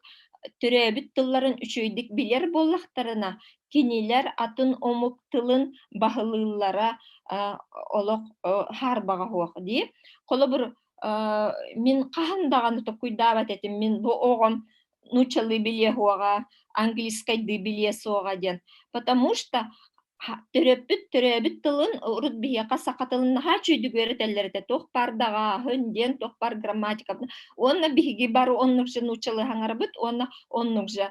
төрөөбүт тылларын үчүгэйдик билэр буоллахтарына Кинилэр атын омук тылын баһылыыллара олох хаарбаҕа суох дии. Холобур, мин хаһан даҕаны токуйдаабат этим, мин бу оҕом нучалы билиэ суоҕа, английскайдыы билиэ суоҕа диэн. Потому что төрөппүт төрөөбүт тылын урут биһиэхэ саха тылын наһаа чүйдүгүөр этэллэр этэ туох баар даҕааһын диэн туох баар грамматика уонна биһиги бары оннук же нучалы хаҥарбыт уонна оннук же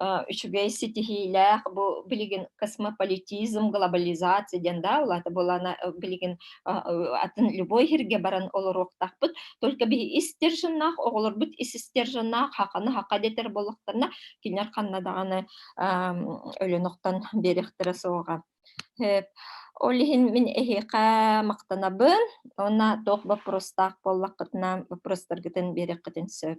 үчүгэй ситиһиилээх бу билигин космополитизм глобализация диэн да это было на билигин атын любой һирге баран олоруохтахпыт только биһи истержиннаах оҕолорбут исистержиннаах хаханы хаха детер болуохтарна кинер ханна даҕаны өлөнөхтөн берехтере суоҕа ол иһин мин эһиэхэ махтанабын уонна туох боппуруостаах буоллаххытына боппуруостаргытын биэрэххитин сөп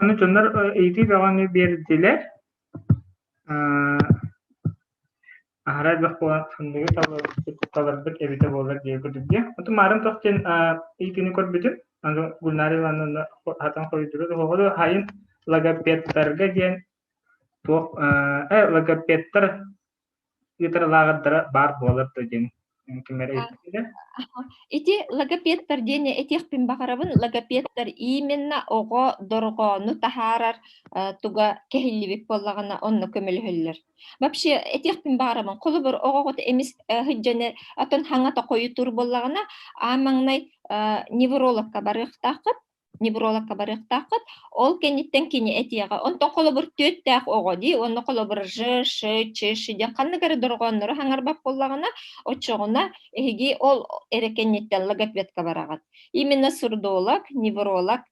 Аны дьоннор ыйытыы бөҕөнү биэрдилэр. Аһара элбэх буолан ханныгы таларбыт эбитэ буолар диэн көрдүбүтэ. Отон маарын туох диэн ыйытыыны көрбүтүм. Аны Гульнара Ивановна хатан хоруйдура да хоҕо хайын логопедтарга диэн туох э логопедтар Петр лааҕырдара баар буолар дуо диэн ким эрэ эттэ Ити логопедтар диэн этиэхпин баҕарабын логопедтар именно оҕо дорҕоону таһаарар туга кэһиллибит буоллаҕына онно көмөлөһөллөр вообще этиэхпин баҕарабын холобур оҕоҕут эмис сылдьаны отон хаҥата хойутуур буоллаҕына аа маҥнай неврологка барыахтааххыт неврологка барыахтааххыт ол кэнниттэн кини этиэҕэ онтон холобур түөттээх оҕо дии онно холобур ж ш ч ш диэн ханнык эрэ дорҕооннору хаҥарбат буоллаҕына оччоҕуна эһиги ол эрэ кэнниттэн логопедка бараҕыт именно сурдолог невролог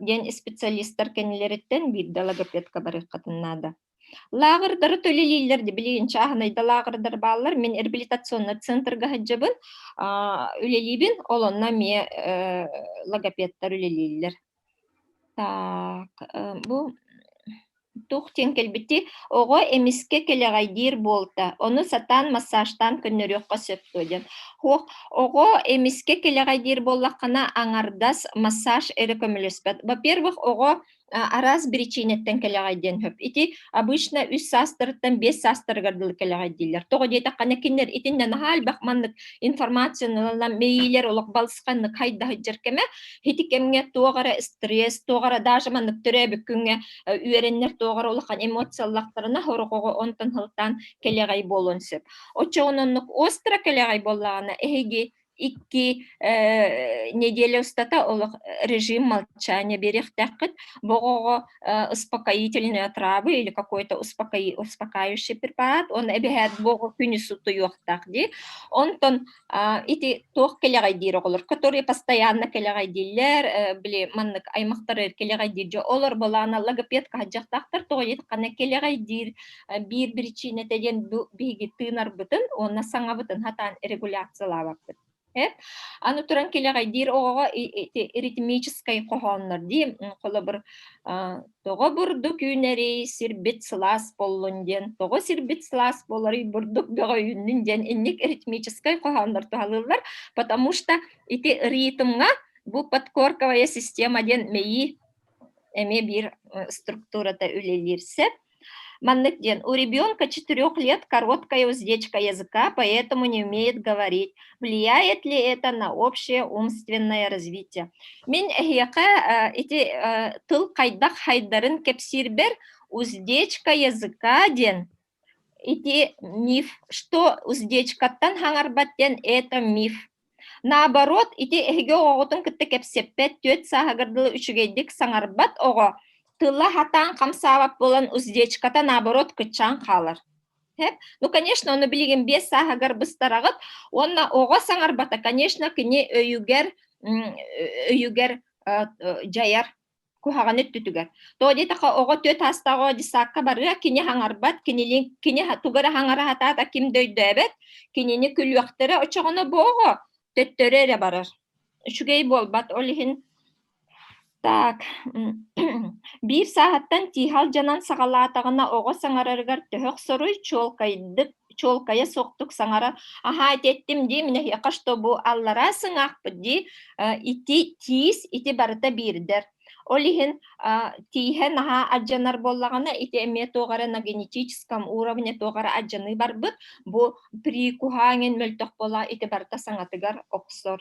диэн специалистар кэннилэриттэн биирдэ логопедка барыаххытын наада Лааҕырдары төлөлүүллэр да билигин чааһынайда лааҕырдар бааллар. Мин реабилитационный центрга сылдьабын, аа, үлэлиибин, ол онно эмиэ, э, логопедтар үлэлииллэр. Так, э, бу туох диэн кэлбитий? Оҕо эмискэ кэлэҕэйдиир буолта. Ону сатаан массажтаан көннөрүөххэ сөп дуо диэн. Ох, оҕо эмискэ кэлэҕэйдиир буоллаххына, аҥардас массаж эрэ көмөлөспөт. Во-первых, оҕо араас биричиинэттэн кэлэҕэй диэн сөп. Ити обычно үс саастарыттан биэс саастарыгар дылы кэлэҕэй дииллэр. Тоҕо диэтэххэ, кинилэр итиннэ наһаа элбэх маннык информацияналан мэйиилэр олох балысханнык хайда сылдьар кэмэ. Ити кэмҥэ туох эрэ стресс, туох эрэ даже маннык төрөөбүт күҥҥэ үөрэннэр туох эрэ улахан эмоциялахтарына сорохоҕо онтон сылтаан кэлэҕэй буолуон сөп. Оччоҕуна оннук остро кэлэҕэй буоллаҕына эһиги Икки неделя устата олох режим молчания биэриэхтээххит. Бу оҕоҕо успокоительные отравы или какой-то успокои успокаивающий препарат, он эбэһээт бу оҕо күнүс утуйуохтаах дии. Онтон ити туох кэлэҕэйдиир оҕолор, которые постоянно кэлэҕэйдииллэр, били маннык аймахтар кэлэҕэйдиир дьэ олор былаана логопедка сылдьахтаахтар тоҕо диэтэр ханна кэлэҕэйдиир биир биричиинэтэ диэн бу биһиги тыынарбытын уонна саҥабытын хатаан регуляциялаабаппыт эт аны туран килэҕэйдиир оҕоҕо ритмическай хоһооннор дии холобур тоҕо бурдук үүнэрий сирбит сылаас боллун диэн тоҕо сирбит сылаас болоруй бурдук бөҕөйүннүн диэн инник ритмическай хоһооннор туһалыыллар потому что ити ритмҥа бу подкорковая система диэн мэйии эмиэ биир структурата үлэлиир сэп Маннык диэн, у ребенка четырех лет короткая уздечка языка, поэтому не умеет говорить. Влияет ли это на общее умственное развитие? Мин эһиэхэ ити тыл хайдах хайдарын кэпсиирбэр уздечка языка диэн ити миф, что уздечкаттан хаҥарбат диэн это миф. Наоборот, ити эһиги оҕоҕутун кытта кэпсэппэт, түөрт сааһыгар дылы үчүгэйдик саҥарбат оҕо тыла хатаан хамсаабат буолан уздечката наоборот кыччаан хаалар. Хэп? Ну, конечно, ону билигин биэс сааһыгар быстараҕыт уонна оҕо саҥарбата, конечно, кини өйүгэр өйүгэр дьайар куһаҕан өттүтүгэр. То диэтэхэ оҕо түөрт аастааҕы десантка барыа, кини хаҥарбат, кинилин кини тугара хаҥара хатаата ким да өйдөөбөт, кинини күлүөхтэрэ очоҕоно бооҕо төттөрү эрэ барар. Үчүгэй буолбат ол иһин так биир сааһыттан тиихал дьанан саҕалаатаҕына оҕо саҥарарыгар төһөх соруй чуолкайдык чуолкайа суохтук саҥара аһаа эттим дии минэһиэхэ чтобы аллараа сыҥаахпыт дии ити тиис ити барыта биирдэр ол иһин тииһэ наһаа адьанар буоллаҕына ити эмиэ туох эрэ на генетическом уровне туох эрэ адьаныы барбыт бу прикуһаан мөлтөх буола ити барыта саҥатыгар охсор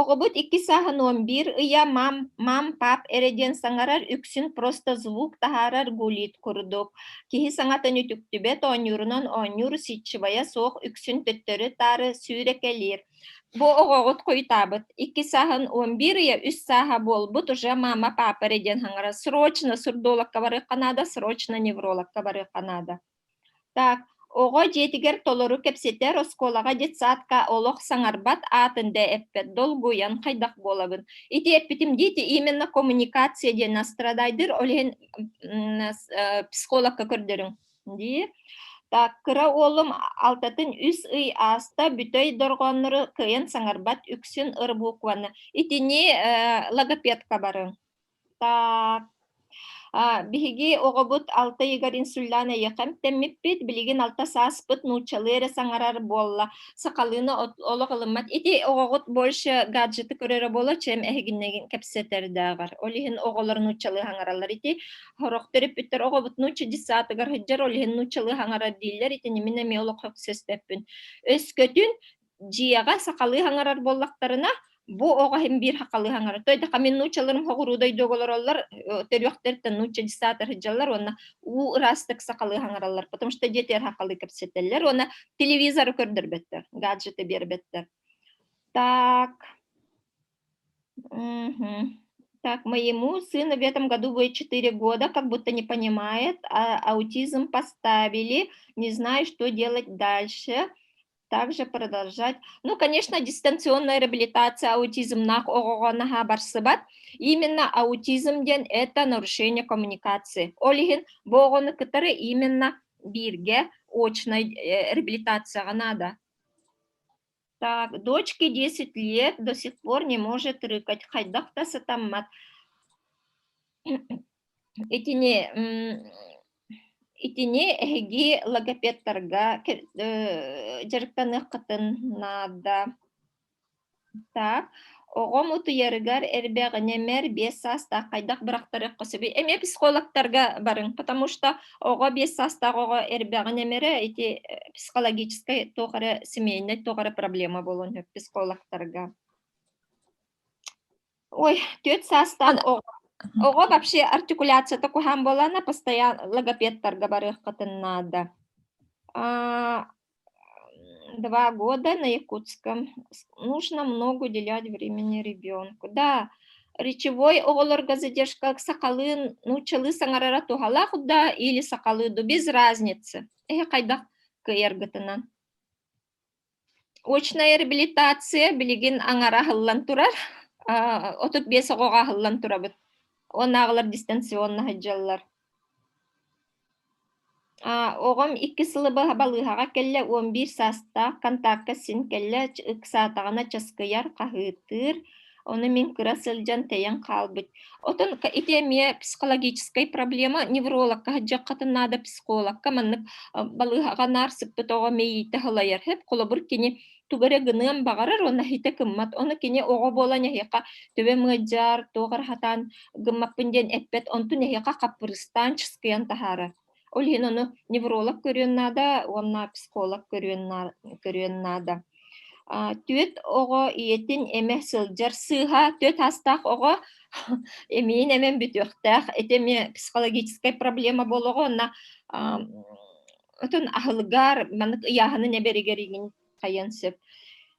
Оҕобут икки сааһын уон биир ыйа мам, мам, пап эрэ диэн саҥарар, үксүн просто звук таһаарар гулит курдук. Киһи саҥатын үтүктүбэт, оонньуурунан оонньуур, ситчевайа суох, үксүн төттөрү-таары сүүрэкэлиир. Бу оҕоҕут хойутаабыт. Икки сааһын уон биир ыйа үс сааһа буолбут уже мама, папа эрэ диэн хаҥара. Срочно сурдологка барыахха наада, срочно неврологка барыахха наада. Так, оҕо дьиэтигэр толору кэпсэтэр оскуолаҕа детсадка олох саҥарбат аатын да эппэт долгуйан хайдах буолабын ити эппитим диити именно коммуникация диэн настрадайдыр ол иһин психологка көрдөрүҥ дии так кыра уолум алтатын үс ый ааста бүтэй дорҕооннору кыайан саҥарбат үксүн ыр букваны итини логопедка барыҥ Так, биһиги оҕобут алта ыйыгар инсуллаан эйэхэмтэммиппит, билигин алта сааспыт нууччалыы эрэ саҥарар буолла. Сахалыына олох ылыммат. Ити оҕоҕут больше гаджеты көрөрө буолла, чем эһигиннэгин кэпсэтэрдээҕэр. Ол иһин оҕолор нууччалыы хаҥараллар ити. Сорох төрөппүттэр оҕобут нуучча детсаатыгар сылдьар, ол иһин нууччалыы хаҥарар дииллэр. Итини мин эмиэ олох сөспөппүн. Өскөтүн дьиэҕэ сахалыы хаҥарар буоллахтарына, бу оҕо иһин биир хахалыы хаҥарар. То да камин нучаларын хоҕуруу дойду олороллор, төрүөхтэртэн нуча десата сылдьаллар уонна уу ыраастык сахалыы хаҥараллар, потому что детер хахалыы кэпсэтэллэр уонна телевизору көрдөрбөттөр, гаджеты биэрбэттэр. Так. Так, моему сыну в этом году будет 4 года, как будто не понимает, а аутизм поставили, не знаю, что делать дальше. также продолжать. Ну, конечно, дистанционная реабилитация аутизмных оҕоҕо наһаа барсыбат. Именно аутизм диэн это нарушение коммуникации. Ол иһин бу оҕону кытары именно бирге очной э, реабилитацияҕа надо. Так, дочке 10 лет до сих пор не может рыкать. Хайдах да сатаммат. Итини итини эһиги логопедтарга дьарыктаныаххытын наада. Так, оҕом утуйарыгар эрбэҕинэмэр биэс саастаах хайдах бырахтарыахха сөбүй? Эми психологтарга барыҥ, потому что оҕо биэс саастаах оҕо эрбэҕинэмэрэ ити психологическай туох эрэ семейнай туох эрэ проблема буолуон сөп психологтарга. Ой, түөрт саастаах оҕо оҕо вообще артикуляцията куһаан буолаана постоянно логопедтарга барыаххытын наада. А, 2 года на Якутском. Нужно много уделять времени ребенку. Да, речевой оҕолорго задержка сахалыы нууччалыы саҥарара туһалаах да или сахалыы да без разницы. Эһэ хайдах кыйаргытынан. очная реабилитация билигин аҥара аһыллан турар отут биэс оҕоҕо аһыллан турабыт уоннааҕылар дистанционно сылдьаллар оҕом икки сылы быһа балыыһаҕа кэллэ уон биир саастаах контакка син кэллэ ыксаатаҕына часкыйар хаһыытыыр Ону мин кыра сылдьан тэйэн хаалбыт. Отон ити эмиэ психологическай проблема. Неврологка сыдьаххатын наада психологка маннык балыыһаҕа наар сыппыт оҕо мэйиитэ халайар. Хэп холобур кини тугу эрэ гыныан баҕарар уонна ситэ гыммат. Ону кини оҕо буолан эһиэхэ төбө мыадьаар, туох эрэ сатаан гыммаппын диэн эппэт, онтун эһиэхэ хаппырыстаан чыскыйан таһаарар. Ол иһин ону невролог көрүөн наада уонна психолог көрүөн наада. Көрүөн наада. Түөт оҕо ийэтин эмэ сылдьар сыыһа түөт аастаах оҕо эмиин эмэн бүтүөхтээх ити эмиэ психологическай проблема буолуоҕа уонна отон аһылгаар маннык ыйааһынын эбэригэригин хайан сөп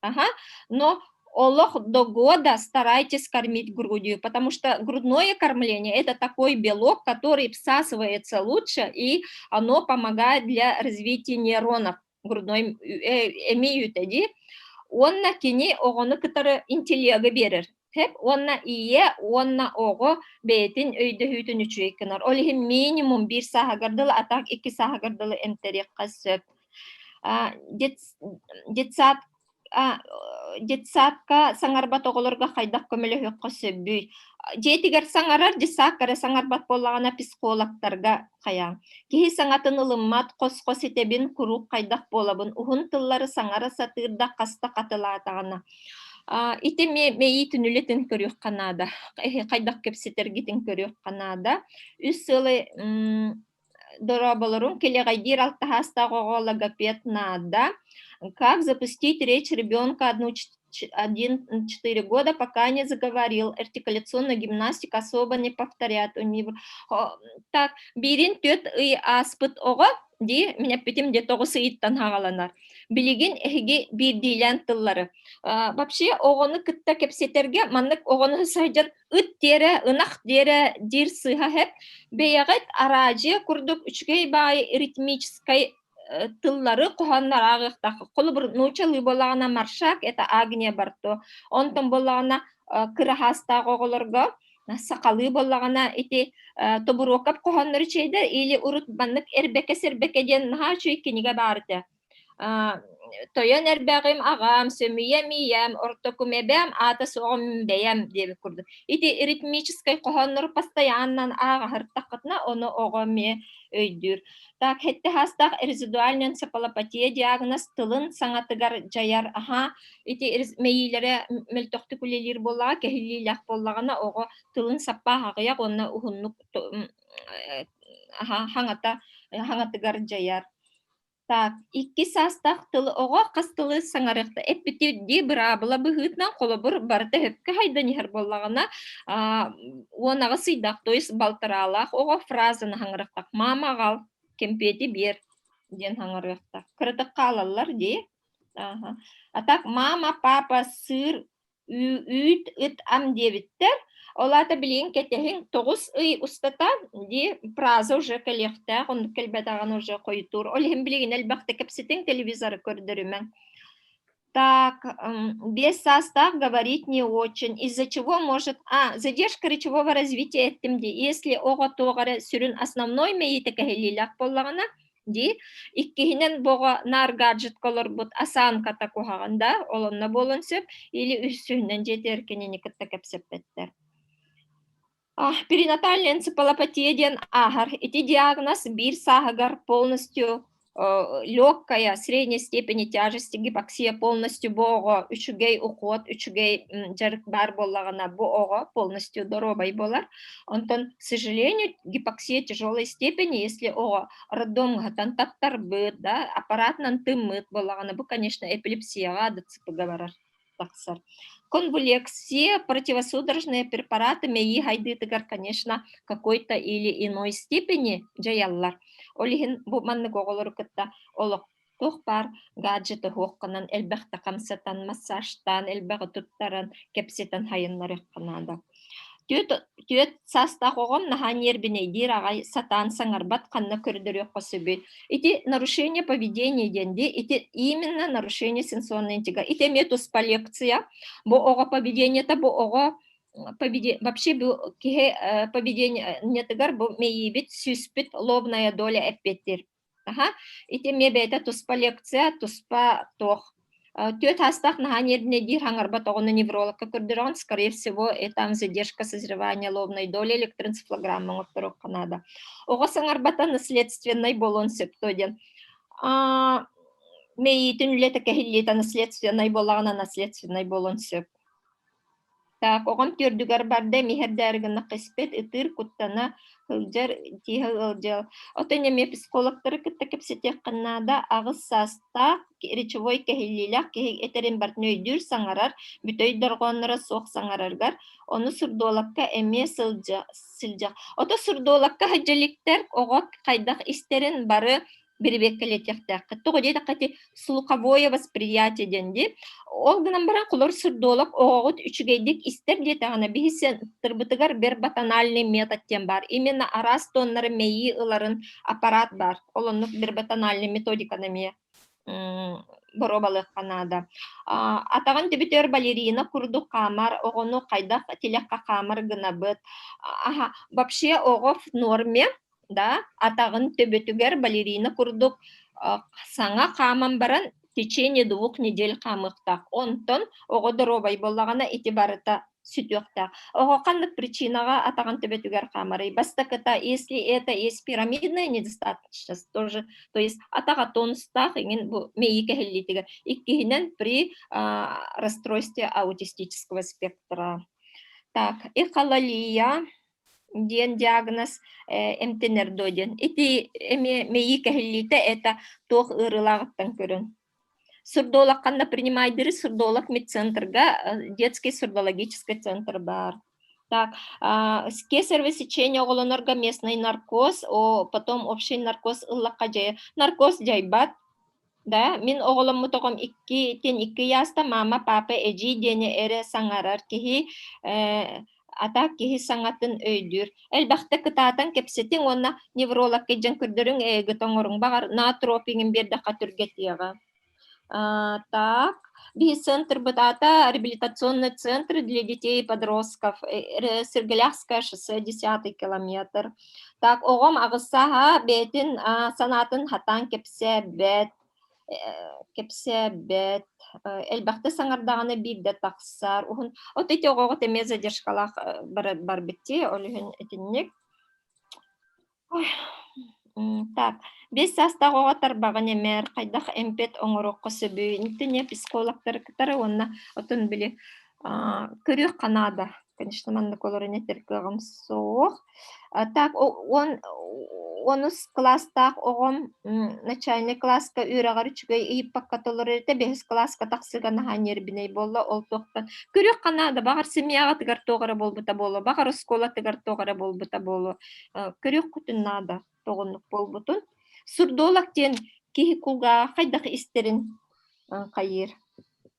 Ага. Но олох до года старайтесь кормить грудью, потому что грудное кормление это такой белок, который всасывается лучше, и оно помогает для развития нейронов грудной э, имеютеди. Уонна кини оҕону кытары интеллега берер. Тэп уонна ийэ уонна оҕо бэйэтин өйдөһүүтүн үчүгэй гынар. Ол иһин минимум биир сааһыгар дылы, атах икки сааһыгар дылы эмтэриэххэ сөп. детсад детсадка саҥарбат оҕолорго хайдах көмөлөһүөххэ сөбүй дьиэтигэр саҥарар десадка эрэ саҥарбат буоллаҕына психологтарга хайа киһи саҥатын ылыммат хос-хос итэбин куруук хайдах буолабын уһун тыллары саҥара сатыырда хаста хатылаатаҕына ити мэйии түнүлэтин көрүөххэ наада хайдах кэпсэтэргитин көрүөххэ наада үс сыалы дорооболоруҥ килэҕэйдиир алтаһаастаах оҕо логопед надо как запустить речь ребенка один четыре года пока не заговорил артикуляционная гимнастика особо не повторяет так биирин түөрт ый ааспыт оҕо дии минэппитим де тоҕус ыйыттан хаҕаланар билигин эһиги биирдиилээн тыллары вообще оҕону кытта кэпсэтэргэ маннык оҕону сылдьан ыт диэрэ ынах диэрэ диир сыыһа хэт бэйэҕит араадьыйа курдук үчүгэй баай ритмическай э, тыллары хоһооннорааҕыктах холобур нуучалыы буолаҕына маршак это агния барто онтон буолаҕына э, кыраһаастаах оҕолорго сахалыы буоллаҕына ити тобуруокап хоһооннор чейдер или урут маннык эрбэкэ сэрбэкэ диэн наһаа үчүгэй кинигэ баарыта Тойон эрбэҕим аҕам, сөмүйэм ийэм, ортокумэбэм, аата суоҕум бэйэм диэбит курдук. Ити ритмическэй хоһооннору постоянно ааҕаһартаххытына, ону оҕо эмиэ өйдүүр. Так, хэтте хаастах резидуальный энцефалопатия диагноз тылын саҥатыгар дьайар. Аха, ити мэйиилэрэ мөлтөхтүк үлэлиир буоллаҕа, кэһиллиилээх буоллаҕына, оҕо тылын саппаах аҕыйах уонна уһуннук аха хаҥата хаҥатыгар дьайар. Так, икки саастаах тылы оҕо хас тылы саҥарыахта эппитий дии быраабыла быһыытынан холобур барыта өһөпкө хайдан иһэр буоллаҕына аа уон аҕыс ыйдаах туйс балтараалаах оҕо фразаны хаҥырыахтах мама аҕал кэмпиэти биэр диэн хаҥырыахта кыратык хаалаллар дии аха а так мама папа сыр үүт ыт ам диэбиттэр ол аата билигин кэтэһиҥ тоҕус ый устата дии праза уже кэлиэхтээх оннук кэлбэтэҕин уже хойутуур ол иһин билигин элбэхтэ кэпсэтиҥ телевизоры көрдөрүмэҥ так без состав говорить не очень из-за чего может а задержка речевого развития этим дии если оҕо туох эрэ сүрүн основной мэйиитэ кэһиллиилээх буоллаҕына дии. Иккиһинэн боҕо наар гаджетка олорбут осанката куһаҕан да, олонно буолан сөп, или үссүһүнэн дьиэтигэр кинини кытта кэпсэппэттэр. А, перинатальная энцефалопатия диэн ааһар. Ити диагноз биир сааһыгар полностью легкая средней степени тяжести гипоксия полностью бу оҕо үчүгэй ухуот үчүгэй дьарык баар буоллаҕына бу оҕо полностью доруобай болар Онтон, к сожалению, гипоксия тяжелой степени, если оҕо роддомҥаһытан таттарбыт, да, аппаратынан тыммыт буоллаҕына, бу, конечно, эпилепсияҕа дацыпыга барар тахсар. Конвулексия, противосудорожные препараты мэйии хайдыытыгар, конечно, какой-то или иной степени дьайаллар. Ол иһин бу маннык оҕолору кытта олох туох баар гаджеты туһуохханан элбэхтэ хамсатан, массажтаан, элбэҕи туттаран, кэпсэтэн сайыннарыахха наада. Түөрт, түөрт саастаах оҕом наһаа ньиэрбинэйдиир аҕай сатаан саҥарбат ханна көрдөрүөххэ сөбүй. Ити нарушение поведения диэн дии, ити именно нарушение сенсорного интеллекта. Ити эмиэ туспа лекция. Бу оҕо поведениета бу оҕо вообще бу киһи поведениетыгар бу мэйиибит сүүспүт лобная доля эппиэттир Аха, ити эмиэ бэйэтэ туспа лекция, туспа туох Түөрт саастаах наһаа нервнэйдиир хаҥарбатоҕуна неврологка көрдөрөҕүн, скорее всего, э, там задержка созревания лобной доли электроэнцефалограмма оҥотторуохха наада. Оҕо саҥарбата наследственнай буолуон сөп дуо диэн. Мэйиитин үлэтэ кэһиллиитэ наследственнай буолаҕына наследственнай буолуон сөп. Так, оҕом түөрдүгэр барда, эмиһэрдээри гыннахха испэт, ытыыр, куттана сылдьар, тииһэ ыалдьар. Оттон эмиэ психологтары кытта кэпсэтиэххэ наада. Аҕыс саастаах, речевой кэһиллиилээх киһи этэрин барытын өйдүүр, саҥарар, бүтэй дорҕоонноро суох саҥараргар, ону сурдуолакка эмиэ сылдьа сылдьар. Ото сурдуолакка сылдьа иликтэр, оҕо хайдах истэрин бары бэрэбиэркэлэтиэхтээххит тоҕо диэтэххэ ити слуховое восприятие диэн дии ол гынан баран холор сырдолог оҕоҕут үчүгэйдик истэр диэтэҕинэ биһиссиэттырбытыгар вербатональный метод диэн баар именно араас тоннары мэйии ыларын аппарат баар ол оннук вербатональный методиканы эмиэ боруобалыахха наада атаҕын төбөтөр балерина курдук хаамар оҕону хайдах тилэххэ хаамар гынабыт вообще оҕо в норме да атаҕын төбөтүгэр балерина курдук саҥа хааман баран течение двух недель хаамыахтаах онтон оҕо доруобай буоллаҕына ити барыта сүтүөхтээх оҕо ханнык причинаҕа атаҕын төбөтүгэр хаамарый бастакыта если это есть пирамидная недостаточность тоже то есть атаҕа тонустаах иҥин бу мэйии кэһиллиитигэр иккиһинэн при расстройстве аутистического спектра так и хололия диэн диагноз эмтэнэр дуо диэн ити эмиэ мэйии кэһиллиитэ это туох ыарыылааҕыттан көрүҥ сурдолог ханна принимайдыри сурдолог медцентрга детский сурдологический центр баар так кесарево сечение оҕолонорго местный наркоз потом общий наркоз ыллахха дьайар наркоз дьайбат Да, мин оҕоломмут оҕом икки, итин икки ыйааста, мама, папа, эдьиий диэни эрэ саҥарар киһи, э, атаак киһи саҥатын өйдүүр. Элбэхтэ кытаатан кэпсэтиҥ уонна неврологка дьон көрдөрүҥ, эйигит оҥоруҥ баҕар, наотропиҥын биэрдэххэ түргэтиэҕэ. А, так, БИХ-центрбыт аата реабилитационный центр для детей и подростков, Сырголявское шоссе, 10 километр. Так оҕом аҕыссааһа бэйэтин санаатын хатаан кэпсээбэт кэпсээбэт элбэхтэ саҥардаҕына биирдэ тахсар уһун от эти оҕоҕо эмиэ задержкалаах барбыт дии ол иһин итинник так биэс саастаах оҕо тарбаҕын имэр хайдах эмпэт оҥоруохха сөбүй итинник психологтары кытары уонна отун били көрүөх канада конечно, маннык олорон этэр кыаҕым суох. А так, он онус класстаах оҕом начальный класска үөрэҕэр үчүгэй ыйыппакка толорор этэ бэһис класска тахсыга наһаа нервинэй буолла ол туохтан күрүөх ханада баҕар семьяҕытыгар туох эрэ буолбута буолуо баҕар оскуолатыгар туох эрэ буолбута буолуо күрүөх кутун наада тоҕуннук буолбутун сурдолог диэн киһи кулгааҕа хайдах истэрин хайыыр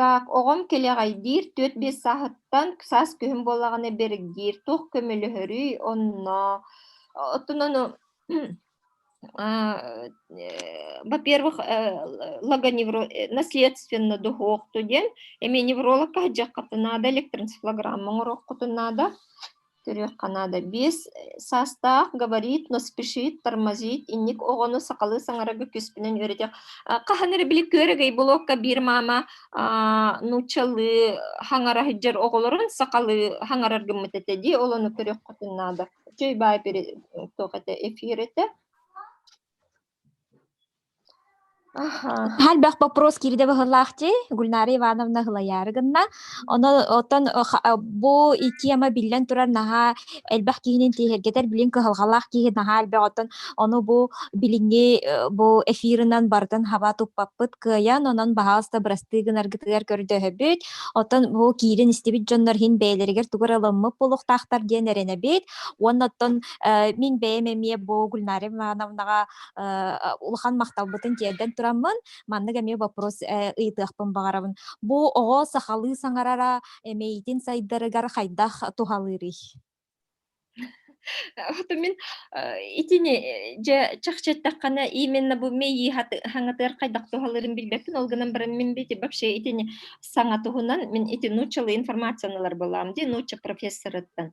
Так, оҕом килэҕэйдиир түөрт-биэс сааһыттан саас күһүн буоллаҕына бэргиир, туох көмөлөһөрүй онно. Оттон ону во-первых, логоневро наследственно духуохту диэн, эмиэ невролог кыһадьыаххытын наада, электроэнцефалограмма оҥоруоххутун наада. Төрүөх Канада биэс саастаах, габарит, но спешит, тормозит, инник оҕону сахалыы саҥарарга күүспүнэн үөрэтиэх. Хаһан эрэ били күөрэгэй блокка биир маама нууччалыы хаҥара сылдьар оҕолорун сахалыы хаҥарар гыммыт этэ дии, олону көрүөх хотун наада. Чөй баай пере туох этэ, эфир этэ. Хальбах вопрос киирдэ быһылаах ти Гульнара Ивановна Һылайаары гынна. Ону оттон бу тема биллэн турар наһаа элбэх киһинин тиэһиргэтэр билин кыһалҕалаах киһи наһаа элбэх оттон ону бу билиҥҥи бу эфирынан барытын хаба туппаппыт кыайан онон баһаалыста бырастыы гынаргытыгар көрдөһөбүт. Оттон бу киирин истибит дьоннор иһин бэйэлэригэр тугу эрэ ылыммыт буолуохтаахтар диэн эрэнэбит. Уонна оттон Э, мин бэйэм эмиэ бу Гульнара Ивановнаҕа э, улахан махталбытын тиэрдэн тураммын, маннык эмиэ боппурус э, ыйытыахпын баҕарабын. Бу оҕо сахалыы саҥарара эмэйитин сайдарыгар хайдах туһалыырый? Ото мин итини дьэ чахчыттаххына именно бу мейи хаңатыар хайдах туһалырын билбеппин ол гынан баран мин бити вообще итини саҥа туһунан мин ити нууччалыы информацияны ылар буолаам ди нуучча профессорыттан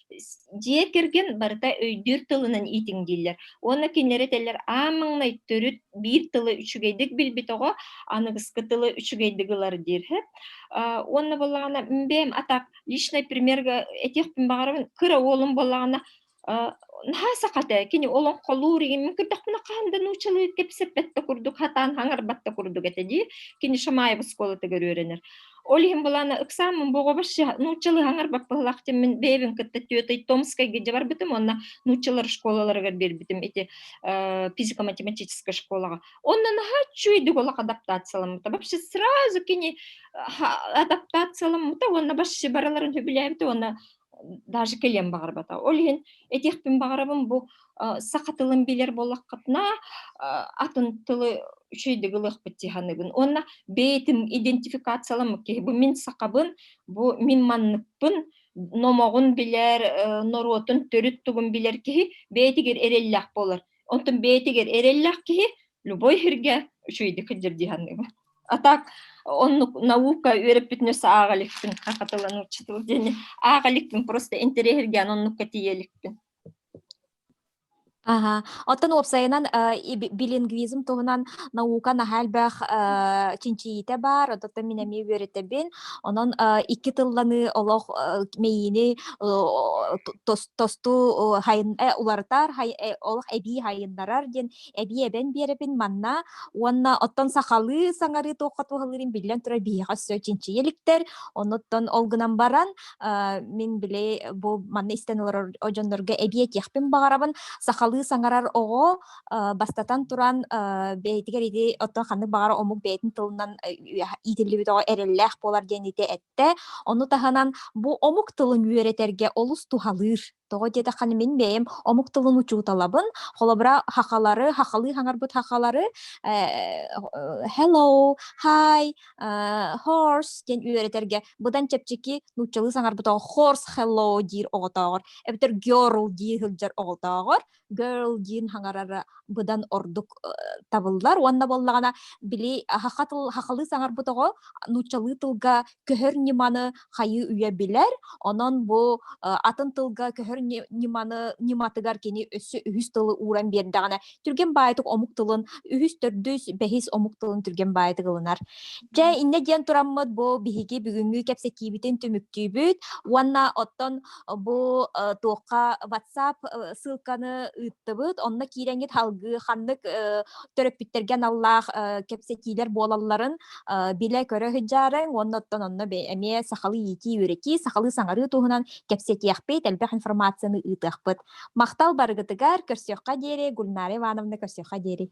дьиэ кэргэн барыта өйдүүр тылынан иитиҥ дииллэр уонна кинилэр этэллэр аан маҥнай төрүт биир тылы үчүгэйдик билбит оҕо аныгыскы тылы үчүгэйдик ылар диир уонна буоллаҕына бэйэм атак личный примергэ этиэхпин баҕарабын кыра уолум буоллаҕына наһаа саха этэ кини олоҥхолуур игиммин көрдөхпүнэ хаһан да нууччалыы кэпсэппэт да курдук хатаан хаҥарбат да курдук этэ дии кини шамаев оскуолатыгар үөрэнэр Ол иһин былаана ыксааммын боҕобоща нууччалыһаҥар баппыллаах тиммин бэйэбин кытта түөтэй Томскайга барбытым уонна нууччалар школаларыгар биэрбитим ити физико-математическай школаҕа. Онно наһаа үчүгэйдик олох адаптацияламмыта. Вообще сразу кини адаптацияламмыта уонна вообще барыларын сөбүлээбитэ уонна даже кэлиэн баҕарбата. Ол иһин этиэхпин баҕарабын бу саха тылын билэр буоллаххытына атын тылы үчүйдүк ылыахпыт тиһаныгын. Уонна бэйэтим идентификацияламмыт киһи бу мин сахабын, бу мин манныкпын, номоҕун билэр, норуотун төрүт тугун билэр киһи бэйэтигэр эрэллээх буолар. Онтон бэйэтигэр эрэллээх киһи любой һирге үчүйдүк дирдиһаныгы А так оннук наука үөрэппитинэ сааҕа иликпин хахатылан уччутул диэни аах иликпин просто интэриэһиргээн оннукка тиийэ иликпин Аһа. Оттон уопсайынан, э, иби билингвизм туһунан наука наһаа элбэх, э, чинчийиитэ баар, оттон мин эмиэ үөрэтэбин. Онон, э, 2 тылланы олох, э, мэйиини о о тос тосту о хайын э, уларытар, хай э, олох эбии хайыннарар диэн эбии эбэн биэрэбин манна уонна оттон сахалыы саҥарыы туохха туһалыырын биллэн турар биһиэхэ өссө чинчийэ иликтэр оннуттан ол гынан баран мин били бу манна истэн олорор дьоннорго эбии этиэхпин баҕарабын сахалыы саҥарар оҕо бастатан туран бэйэтигэр ити оттон ханнык баҕара омук бэйэтин тылынан иитиллибит оҕо эрэллээх буолар диэн ити эттэ ону таһынан бу омук тылын үөрэтэргэ олус туһалыыр Тоҕо диэтэххинэ мин бэйэм омук тылын учууталабын, холобура хахалары, хахалыы хаҥарбыт хахалары э, hello, hi, э, horse диэн үөрэтэргэ быдан чэпчэки нууччалыы саҥарбыт оҕо horse hello диир оҕотооҕор эбэтэр girl дии сылдьар оҕотооҕор girl диин хаҥарара быдан ордук табыллар уонна боллаҕына били хахалыы саҥарбыт оҕо нууччалыы тылга көһөр ньыманы хайыы үйэ билэр онон бу атын тылга көһөр ньыманы ньыматыгар кини өссө үһүс тылы ууран биэрдэҕинэ түргэн баайтык омук тылын үһүс төрдүс бэһис омук тылын түргэн баайтык ылынар дьэ иннэ диэн тураммыт бу биһиги бүгүҥҥү кэпсэтиибитин түмүктүүбүт уонна оттон бу туохха WhatsApp ссылканы ыыттыбыт, онно киирэҥҥит салгыы ханнык төрөппүттэргэ аналлаах кэпсэтиилэр буолалларын билэ-көрө сылдьарыҥ, уонна оттон онно эмиэ сахалыы иитии-үөрэтии, сахалыы саҥарыы туһунан кэпсэтиэхпит, элбэх информацияны ыытыахпыт. Махтал барыгытыгар, көрсүөххэ диэри, Гульнара Ивановна, көрсүөххэ диэри.